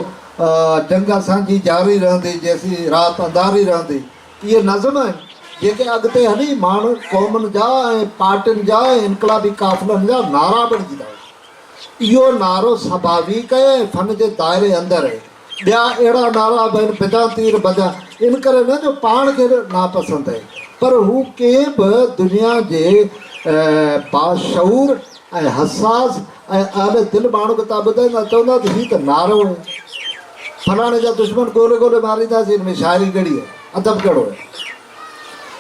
جنگ اسان جي جاري رهندي جيسين رات انڌاري رهندي اهي نظم آهن، جيڪي اڳتي هلي ماڻهن، قومن جا ۽ پارٽين جا ۽ انقلابي قافلن جا نعرا بڻجندا ويا. اهو نعرو سڀاويڪ آهي ۽ فن جي دائري اندر آهي. ٻيا اهڙا نعرا به آهن، بدان تير بجان، انڪري نه جو پاڻ کي به ناپسند آهي، پر هو ڪنهن به دنيا جي باشعور ۽ حساس ۽ اهل دل ماڻهو کي تان ٻڌائيندا چوندا ته هي ته نارو هي فلاڻي جا دشمن ڳولي ڳولي مارينداسين ان ۾ شاعري ڪهڙي هي ادب ڪهڙو هي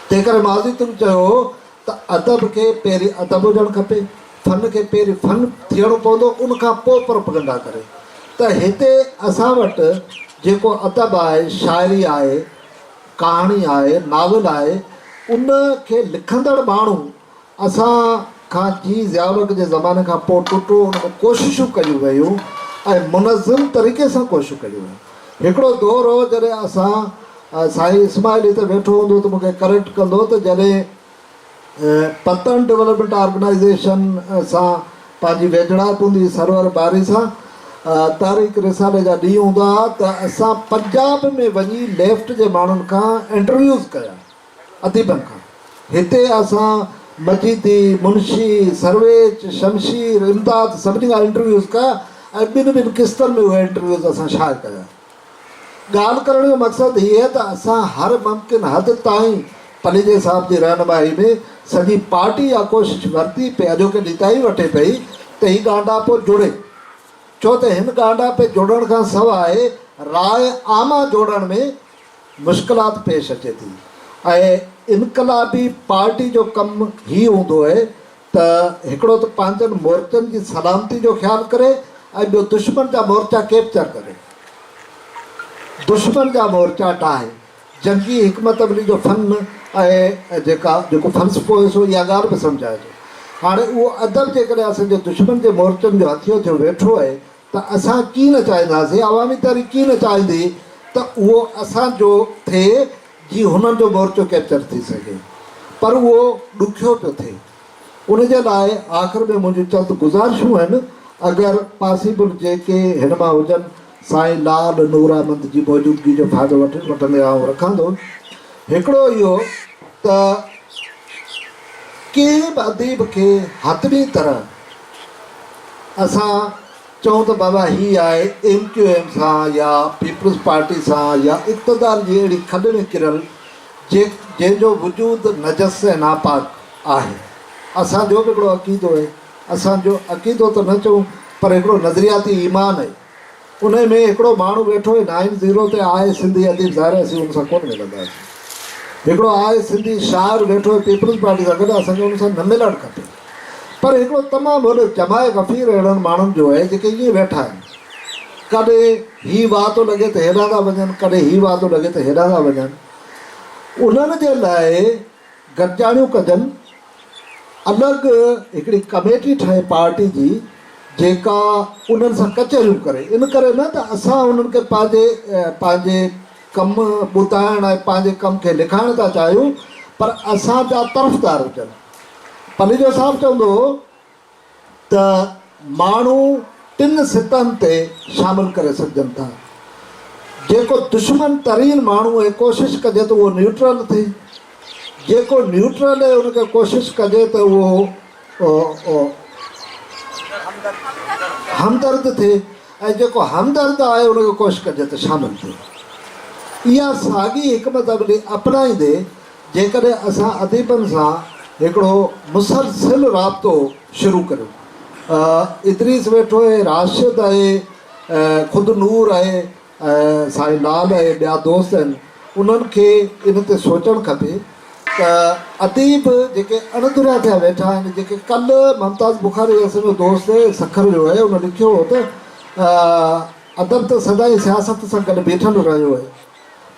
تنهن ڪري ماضي تون چيو هو ته ادب کي پهرين ادب هجڻ کپي فن کي پهرين فن ٿيڻو پوندو ان کان پوء پروپگنڊا ڪري ته هتي اسان وٽ جيڪو ادب آهي شاعري آهي ڪهاڻي آهي ناول آهي ان کي لکندڙ ماڻهو اسان کان جي ضياالحق جي زماني کان پوء ٽٽو ان ۾ ڪوششون ڪيون ويون ۽ منظم طريقي سان ڪوششون ڪيون ويون هڪڙو دور هو جڏهن اسان سائين اسماعيل هتي ويٺو هوندو ته مون کي ڪريڪٽ ڪندو ته جڏهن پتڻ ڊولپمينٽ آرگنائيزيشن سان پنهنجي ويجهڙائپ هوندي هئي سرور باري سان تاريخ رسالي جا ڏينهن هوندا هئا ته اسان پنجاب ۾ وڃي ليفٽ جي ماڻهن کان انٽرويوز ڪيا اديبن کان. هتي اسان مجيدي، منشي، سرويچ، شمشير، امداد سڀني کان انٽرويوز ڪيا ۽ ٻن ٻن قسطن ۾ اهي انٽرويوز اسان شايع ڪيا. ڳالهه ڪرڻ جو مقصد هيء ته اسان هر ممڪن حد تائين پليجي صاحب جي رهنمائي ۾ سڄي پارٽي اها ڪوشش ورتي پئي اڄوڪي ڏينهن تائين وٺي پئي ته هي ڳانڍاپو جڙي ڇو ته هن ڳانڍاپي جڙڻ کان سواء راء عامه جوڙڻ ۾ مشڪلات پيش اچي ٿي ۽ انقلابي پارٽي جو ڪم هي هوندو اهي ته هڪڙو ته پنهنجن مورچن جي سلامتي جو خيال ڪري ۽ ٻيو دشمن جا مورچا ڪيپچر ڪري دشمن جا مورچا ڊاهي جنگي حڪمت عملي جو فن ۽ جيڪا جيڪو فلسفو هيس اها ڳالهه به سمجهائجي هاڻي اهو ادب جيڪڏهن اسان جي دشمن جي مورچن جو هٿيو ٿيو ويٺو اهي ته اسان ڪي نه چاهينداسين، عوامي تحريڪ ڪي نه چاهيندي ته اهو اسان جو ٿئي جي هنن جو مورچو ڪيپچر ٿي سگهي. پر اهو ڏکيو پيو ٿئي. ان جي لاء آخر ۾ منهنجون چند گذارشون آهن، اگر پاسيبل جيڪي هن مان هجن، سائين لال نوراحمد جي موجودگي جو فائدو وٺندي آئون رکان ٿو. هڪڙو اهو ته ڪنهن به اديب کي حتمي طرح. اسان چئون ته بابا هي آهي ايم ڪيو ايم سان يا پيپلز پارٽي سان يا اقتدار جي اهڙي کڏ ۾ ڪريل جنهن جو وجود نجس ۽ ناپاڪ آهي. اسان جو به هڪڙو عقيدو آهي. اسان جو عقيدو ته نه چئون پر هڪڙو نظرياتي ايمان آهي. انهي ۾ هڪڙو ماڻهو ويٺو هي نائن زيرو تي آء سنڌي اديب ظاهر اسين ان سان ڪونه ملنداسين هڪڙو آء سنڌي شاعر ويٺو هي پيپلز پارٽي سان گڏ اسان کي ان سان نه ملڻ کپي پر هڪڙو تمام وڏو جماع غفير اهڙن ماڻهن جو آهي جيڪي ائين ويٺا آهن ڪڏهن هي واء ٿو لڳي ته هيڏانهن ٿا وڃن ڪڏهن هي واء ٿو لڳي ته هيڏانهن ٿا وڃن انهن جي لاء گڏجاڻيون ڪجن، الڳ هڪڙي ڪميٽي ٺاهي پارٽي جي جيڪا انهن سان ڪچهريون ڪري، ان ڪري نه ته اسان انهن کي پنهنجي پنهنجي ڪم ٻڌائڻ ۽ پنهنجي ڪم کي لکائڻ ٿا چاهيون پر اسان جا طرفدار هجن. پليجو صاحب چوندو هو. ته ماڻهو ٽن سطحن تي شامل ڪري سگهجن ٿا، جيڪو دشمن ترين ماڻهو ۽ ڪوشش ڪجي ته اهو نيوٽرل ٿئي، جيڪو نيوٽرل ۽ ان کي ڪوشش ڪجي ته اهو همدرد ٿئي ۽ جيڪو همدرد آهي ان کي ڪوشش ڪجي ته شامل ٿئي. اها ساڳي حڪمت عملي اپنائيندي، جيڪڏهن اسان اديبن سان هڪڙو مسلسل رابطو شروع ڪريون. ادريس ويٺو آهي، راشد آهي، خود نور آهي ۽ سائين لال آهي، ٻيا دوست آهن، انهن کي ان تي سوچڻ کپي ته اديب جيڪي اڻڌريا ٿيا ويٺا آهن، جيڪي ڪلهه ممتاز بخاري اسان جو دوست سکر جو آهي، ان لکيو هو ته ادب ته سدائين سياست سان گڏ بيٺل رهيو آهي.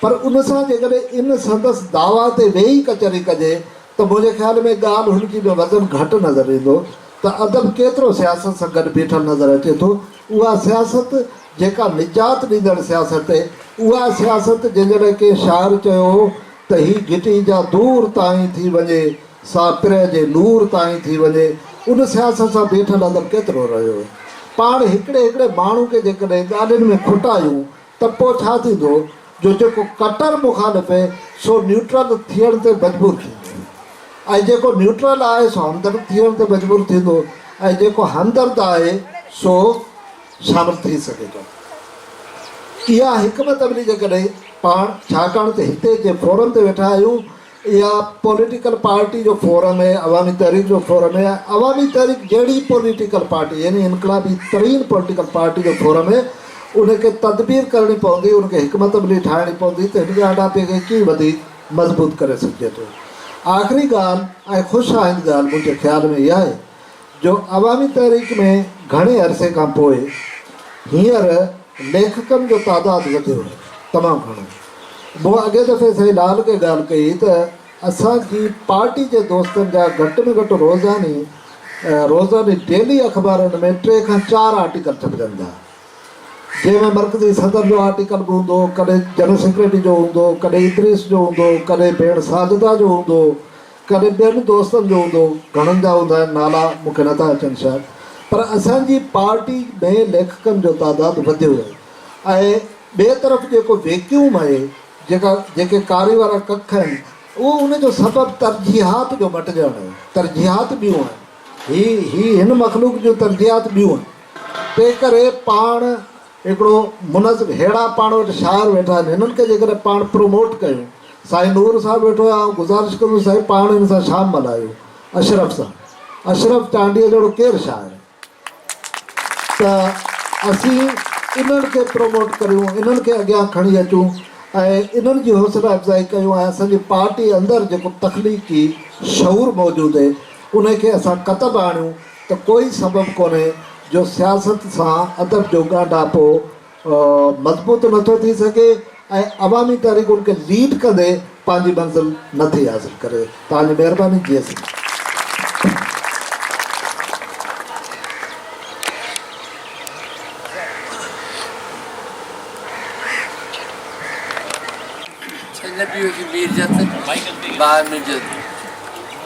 پر ان سان جيڪڏهن ان سندس دعويٰ تي ويهي ڪچهري ڪجي ته منهنجي خيال ۾ ڳالهه هن جي ۾ وزن گهٽ نظر ايندو ته ادب ڪيترو سياست سان گڏ بيٺل نظر اچي ٿو اها سياست جيڪا نجات ڏيندڙ سياست اها سياست جنهن جي لاء ڪنهن شاعر چيو هو ته هي گهٽي جا دور تائين ٿي وڃي سا پرهه جي نور تائين ٿي وڃي ان سياست سان بيٺل ادب ڪيترو رهيو پاڻ هڪڙي هڪڙي ماڻهو کي جيڪڏهن ڳالهين ۾ کوٽايون ته پوء ڇا ٿيندو جو جيڪو ڪٽر مخالف هي سو نيوٽرل ٿيڻ تي مجبور ٿيندو ۽ جيڪو نيوٽرل آهي سو همدرد ٿيڻ تي مجبور ٿيندو ۽ جيڪو همدرد آهي سو شامل ٿي سگهي ٿو. اها حڪمت عملي جيڪڏهن پاڻ ڇاڪاڻ ته هتي جنهن فورم تي ويٺا آهيون، اها پوليٽيڪل پارٽي جو فورم هي، عوامي تحريڪ جو فورم هي ۽ عوامي تحريڪ جهڙي پوليٽيڪل پارٽي يعني انقلابي ترين پوليٽيڪل پارٽي جو فورم هي، ان کي تدبير ڪرڻي پوندي، ان کي حڪمت عملي ٺاهڻي پوندي ته هن ڳالهاپي کي ڪيئن وڌيڪ مضبوط ڪري سگهجي ٿو. آخري ڳالهه ۽ خوش آئند ڳالهه منهنجي خيال ۾ اها آهي جو عوامي تحريڪ ۾ گهڻي عرصي کان پوء هينئر ليکڪن جو تعداد وڌيو آهي، تمام گهڻو. مون اڳئين دفعي سائين لال کي ڳالهه ڪئي ته اسان جي پارٽي جي دوستن جا گهٽ ۾ گهٽ روزاني روزاني ڊيلي اخبارن ۾ ٽي کان چار آرٽيڪل ڇپجن ٿا، جنهن ۾ مرڪزي صدر جو آرٽيڪل به هوندو، ڪڏهن جنرل سيڪريٽري جو هوندو، ڪڏهن ادريس جو هوندو، ڪڏهن ڀيڻ ساجده جو هوندو، ڪڏهن ٻين دوستن جو هوندو، گهڻن جا هوندا آهن، نالا مون کي نٿا اچن شايد، پر اسان جي پارٽي ۾ ليکڪن جو تعداد وڌيو ويو ۽ ٻئي طرف جيڪو ويڪيوم آهي، جيڪا جيڪي ڪاري وارا ڪک آهن، اهو ان جو سبب ترجيحات جو مٽجڻ آهي، ترجيحات ٻيون آهن. هي هي هن مخلوق جون ترجيحات ٻيون آهن، تنهن ڪري پاڻ. هڪڙو منظم ههڙا پاڻ وٽ شاعر ويٺا آهن هنن کي جيڪڏهن پاڻ پروموٽ ڪيون سائين نور صاحب ويٺو آهي آئون گذارش ڪندس سائين پاڻ هن سان شام ملهايو اشرف سان اشرف چانڊيي جهڙو ڪير شاعر ته اسين انهن کي پروموٽ ڪريون انهن کي اڳيان کڻي اچون ۽ انهن جي حوصلا افزائي ڪيون ۽ اسان جي پارٽي اندر جيڪو تخليقي شعور موجود اهي انهي کي اسان ڪتب آڻيون. ته ڪوئي سبب ڪونهي جو سياست سان ادب جو ڳانڍاپو مضبوط نه ٿو ٿي سگهي ۽ عوامي تحريڪ ان کي ليڊ ڪندي پنهنجي منزل نه ٿي حاصل ڪري. توهانجي مهرباني جي سنڌ.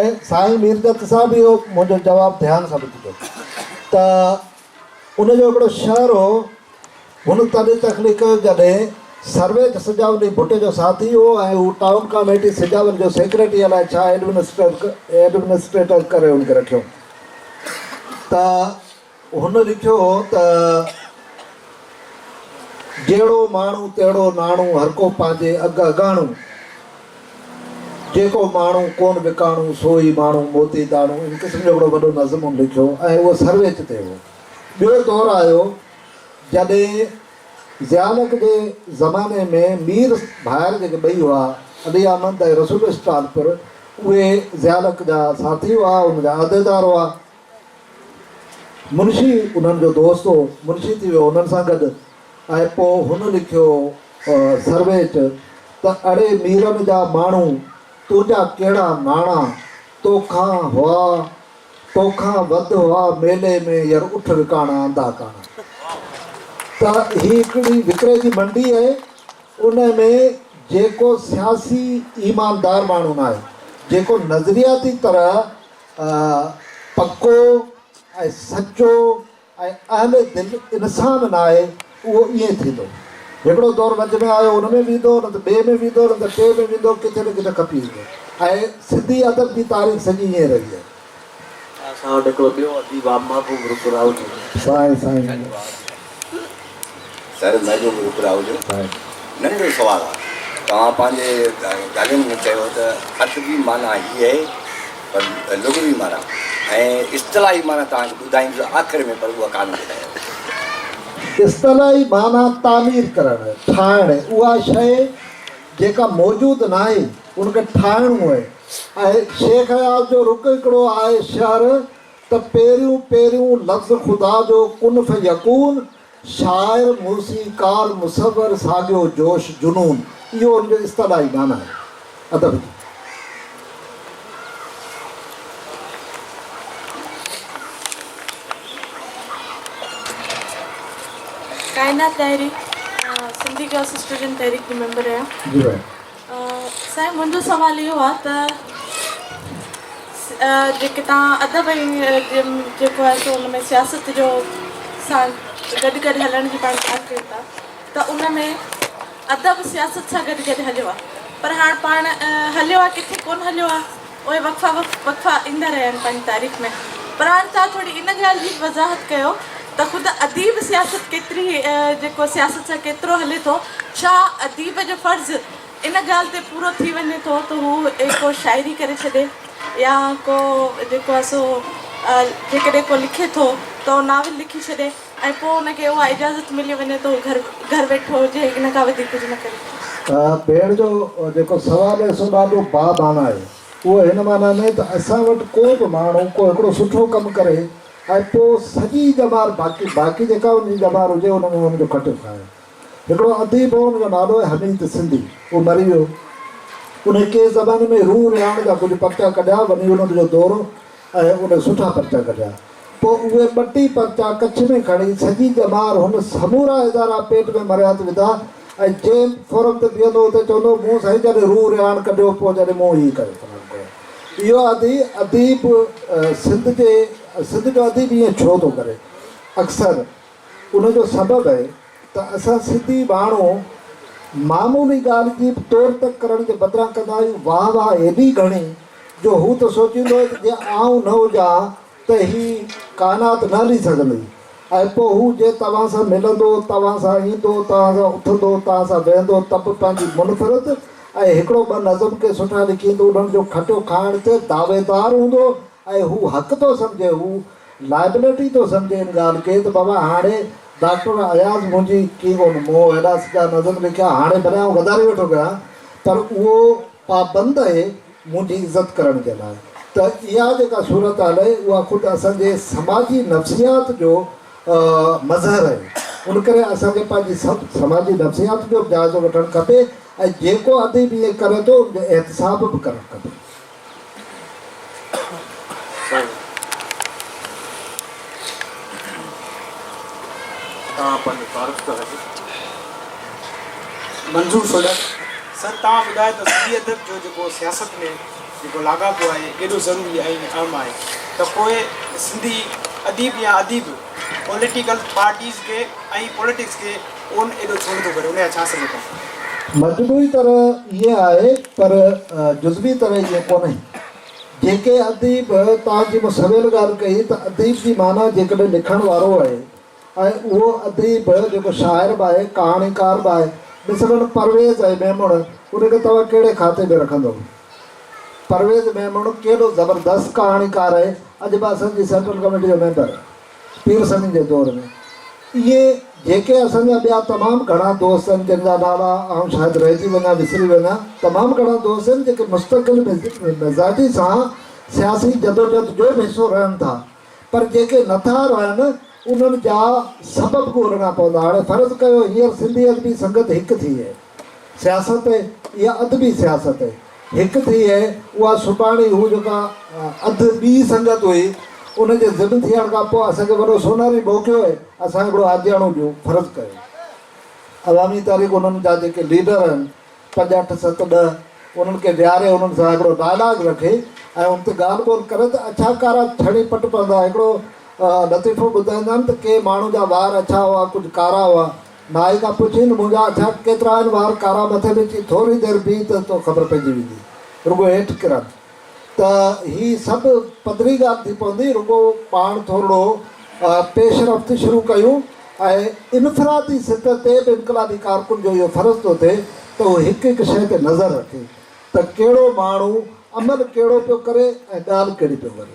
۽ سائين ميرجت صاحب اهو منهنجو جواب ڌيان سان ٻڌي ٿو ته ان جو هڪڙو شعر هو هن تڏهن تخليق ڪيو جڏهن سرويچ سجاولي ڀٽي جو ساٿي هو ۽ هو ٽائون ڪاميٽي سجاول جو سيڪريٽري الائي ڇا ايڊمنسٽريٽر ڪري هن کي رکيو ته هن لکيو هو ته، جهڙو ماڻهو تهڙو ناڻو، هرڪو پنهنجي اگهه اگهاڻو، جيڪو ماڻهو ڪون وڪاڻو، سو ئي ماڻهو موتي داڻو، ان قسم جو هڪڙو وڏو نظم هن لکيو ۽ اهو سرويچ تي هو. ٻيو دور آيو جڏهن ضيانڪ جي زماني ۾ مير ڀائر جيڪي ٻئي هئا، علي احمد ۽ رسول اسٽالپر، اهي ضيانڪ جا ساٿي هئا، ان جا عهديدار هئا. منشي انهن جو دوست هو، منشي ٿي ويو انهن سان گڏ ۽ پوء هن لکيو سرويچ ته اڙي ميرن جا ماڻهو تنهنجا ڪهڙا ناڻا توکان هئا توکان وڌ هئا ميلي ۾ ير اٺ وڪاڻا اندا ڪاڻا ته هي هڪڙي وڪري جي منڊي آهي ان ۾ جيڪو سياسي ايماندار ماڻهو ناهي جيڪو نظرياتي طرح پڪو ۽ سچو ۽ اهل دل انسان ناهي اهو ائين ٿيندو هڪڙو دور وچ ۾ آيو ان ۾ ويندو نه ته ٻئي ۾ ويندو نه ته ٽئين ۾ ويندو ڪٿي نه ڪٿي کپي ايندو ۽ سنڌي ادب جي تاريخ سڄي ائين رهي آهي. اسان وٽ هڪڙو ٻيو اديب آهي محبوب رڪراوت. سائين سائين. سر مين جو ابراهو جو ننڍڙو سوال آهي توهان پنهنجي ڳالهين ۾ چيو ته ادبي معنيٰ هي آهي پر لغوي معنيٰ ۽ اصطلاحي معنيٰ توهان کي ٻڌائيندس آخر ۾ پر اها ڪانه ٻڌايو. اصطلاحي معنيٰ تعمير ڪرڻ، ٺاهڻ، اها شيء جيڪا موجود ناهي ان کي ٺاهڻو آهي ۽ شيخ اياز جو رخ هڪڙو آهي شهر ته پهريون پهريون لفظ خدا جو ڪن فيڪون، شاعر، موسيقار، مصور، ساڳيو جوش، جنون، اهو ان جو اصطلاحي معنيٰ آهي. ادب جي. ڪائنات ڏاهري سنڌي گرلس اسٽوڊنٽ تحريڪ جي ميمبر رهيا. سائين منهنجو سوال اهو آ ته جيڪي توهان ادب ۽ جيڪو آهي سو ان ۾ سياست جو سان گڏ گڏ هلڻ جي پاڻ ڳالهه ڪيو ٿا ته ان ۾ ادب سياست سان گڏ گڏ هليو آ پر هاڻ پاڻ هليو آ ڪٿي ڪون هليو آ اهي وقفا وقفا ايندا رهيا آهن پنهنجي تاريخ ۾. پراڻ صاحب ٿوري ان ڳالهه جي به وضاحت ڪيو ته خود اديب سياست ڪيتري جيڪو سياست سان ڪيترو هلي ٿو، ڇا اديب جو فرض ان ڳالهه تي پورو ٿي وڃي ٿو ته هو ڪو شاعري ڪري ڇڏي يا ڪو جيڪو آهي سو جيڪڏهن ڪو لکي ٿو ته ناول لکي ڇڏي. ۽ پوء ان کي اها اجازت ملي وڃي ته هو گهر گهر ويٺو هجي ۽ ان کان وڌيڪ ڪجهه نه ڪري. پير جو جيڪو سوال آهي سو ڏاڍو با معنيٰ آهي. اهو هن معنيٰ ۾ ته اسان وٽ ڪو به ماڻهو ڪو هڪڙو سٺو ڪم ڪري ۽ پوء سڄي ڄمار باقي باقي جيڪا ان جي ڄمار هجي ان ۾ ان جو کٽيو کائي. هڪڙو اديب هو ان جو نالو آهي حميد سنڌي. اهو مري ويو. انهي ڪيس زماني ۾ روح رهاڻ جا ڪجهه پرچا ڪڍيا ونيولنڊ جو دورو ۽ ان سٺا پرچا ڪڍيا. پوء اهي ٻه ٽي پرچا ڪڇ ۾ کڻي سڄي ڄمار هن سمورا ادارا پيٽ ۾ مريا ته وڌا ۽ جنهن به فورم تي بيهندو هو ته چوندو هو مون سائين جڏهن روح رهاڻ ڪڍيو پوء جڏهن مون هي ڪيو فلاڻو ڪيو. اهو ادي اديب سنڌ جي سنڌ جو اديب ائين ڇو ٿو ڪري؟ اڪثر. ان جو سبب هي ته اسان سنڌي ماڻهو معمولي ڳالهه جي به تور تڪ ڪرڻ جي بدران ڪندا آهيون واهه واهه ايڏي گهڻي جو هو ته سوچيندو هي ته جي آئون نه هجان ها ته هي ڪائنات نه هلي سگهندي ۽ پوء هو جي توهان سان ملندو توهان سان ايندو توهان سان اٿندو توهان سان ويهندو ته به پنهنجي منفرد ۽ هڪڙو ٻه نظم ڪي سٺا لکين ته انهن جو کٽيو کائڻ تي دعويدار هوندو ۽ هو حق ٿو سمجهي هو لائبلٽي ٿو سمجهي ان ڳالهه کي ته بابا هاڻي ڊاڪٽر اياز منهنجي ڪي ڪونه مون هيڏا سڄا نظم لکيا هاڻي ڀلي آئون غداري ويٺو ڪريان پر اهو پابند اهي منهنجي عزت ڪرڻ جي لاء ته اها جيڪا صورتحال اهي اها خود اسان جي سماجي نفسيات جو مظهر اهي ان ڪري اسان کي پنهنجي سماجي نفسيات جو به جائزو وٺڻ کپي ۽ جيڪو اديب ائين ڪري ٿو ان جو احتساب به ڪرڻ کپي. منظور سوڍا سر توهان ٻڌايو ته سنڌي ادب جو جيڪو سياست ۾ جيڪو لاڳاپو آهي ڪيڏو ضروري ۽ اهم آهي ته پوء سنڌي اديب يا اديب پوليٽيڪل پارٽيز کي ۽ پوليٽڪس کي ڪون ايڏو ڇنڊ ٿو ڪري ان جا ڇا سبب آهن؟ مجموعي طرح ائين آهي پر جزوي طرح ائين ڪونهي. جيڪي اديب توهان جي مون سويل ڳالهه ڪئي ته اديب جي معنيٰ جيڪڏهن لکڻ وارو آهي ۽ اهو اديب جيڪو شاعر به آهي ڪهاڻيڪار به آهي مثلاً پرويز ۽ ميمڻ ان کي توهان ڪهڙي کاتي ۾ رکندو؟ پرويز ميمڻ ڪيڏو زبردست ڪهاڻيڪار آهي اڄ به اسان جي سينٽرل ڪميٽي جو ميمبر. پير سنڌ جي دور ۾ ائين جيڪي اسان جا ٻيا تمام گهڻا دوست آهن جن جا نالا آئون شايد رهجي وڃان وسري وڃان تمام گهڻا دوست آهن جيڪي مستقل مزاجي سان سياسي جدوجهد جو به حصو رهن ٿا پر جيڪي نه ٿا رهن انهن جا سبب ڳولهڻا پوندا هاڻي فرض ڪيو هينئر سنڌي ادبي سنگت هڪ ٿي سياست يا ادبي سياست هڪ ٿئي هي، اها سڀاڻي هو جيڪا اڌ ٻي سنگت هئي، ان جي ضد ٿيڻ کان پوء اسان کي وڏو سونهري موقعو هي، اسان هڪڙو آجياڻو ڏيون، فرض ڪيو عوامي تحريڪ انهن جا جيڪي ليڊر هن، پنج اٺ ست ڏهه، انهن کي ويهاري انهن سان هڪڙو ڊائلاگ رکي ۽ ان تي ڳالهه ٻولهه ڪري ته اڇا ڪارا ڇڙي پٽ پوندا، هڪڙو لطيفو ٻڌائيندائين ته ڪي ماڻهو جا وار اڇا هئا، ڪجهه ڪارا هئا. مائي کان پڇين منهنجا اڇا ڪيترا آهن وار ڪارا مٿي ۾ چي ٿوري دير بيهه ته تو خبر پئجي ويندي رڳو هيٺ ڪرن ته هي سڀ پڌري ڳالهه ٿي پوندي رڳو پاڻ ٿورڙو پيش رفت شروع ڪيون ۽ انفرادي سطح تي به انقلابي ڪارڪن جو اهو فرض ٿو ٿئي ته هو هڪ هڪ شيء تي نظر رکي ته ڪهڙو ماڻهو عمل ڪهڙو پيو ڪري ۽ ڳالهه ڪهڙي پيو ڪري.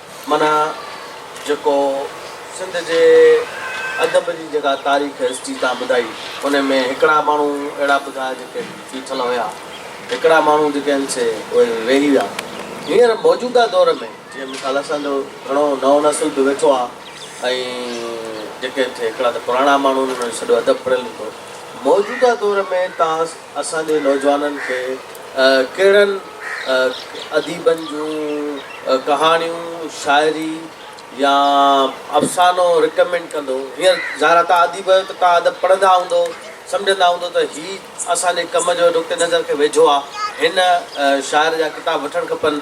معنيٰ جيڪو سنڌ جي ادب جي جيڪا تاريخ هسٽري تان ٻڌائي ان ۾ هڪڙا ماڻهو اهڙا ٻڌايا جيڪي بيٺل هيا هڪڙا ماڻهو جيڪي هن سي اهي ويهي ويا هينئر موجوده دور ۾ جي مثال اسان جو گهڻو نئون نسل به ويٺو آ ۽ جيڪي هن سي هڪڙا ته پراڻا ماڻهو ان جو سڄو ادب پڙهيل هوندو موجوده دور ۾ تان اسان جي نوجوانن کي ڪهڙن اديبن جون ڪهاڻيون، شاعري يا افسانو رڪمينڊ ڪندو؟ هينئر ظاهر آهي توهان اديب آهيو ته توهان ادب پڙهندا هوندو، سمجهندا هوندو ته هي اسان جي ڪم جو نقطي نظر کي ويجهو آهي، هن شاعر جا ڪتاب وٺڻ کپن.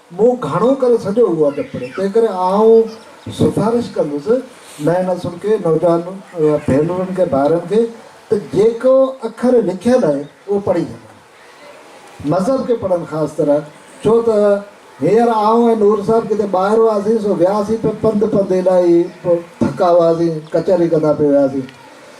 مون گهڻو ڪري سڄو اهو ادب پڙهيو، تنهنڪري آئون سفارش ڪندس نئين نسل کي، نوجوان ڀينرن کي، ڀائرن کي ته جيڪو اکر لکيل آهي اهو پڙهي سگهن. مذهب کي پڙهن خاص طرح، ڇو ته هينئر آئون ۽ نور صاحب ڪٿي ٻاهر هئاسين سو وياسين پئي پنڌ پنڌ الائي ٿڪا هئاسين، ڪچهري ڪندا پئي وياسين.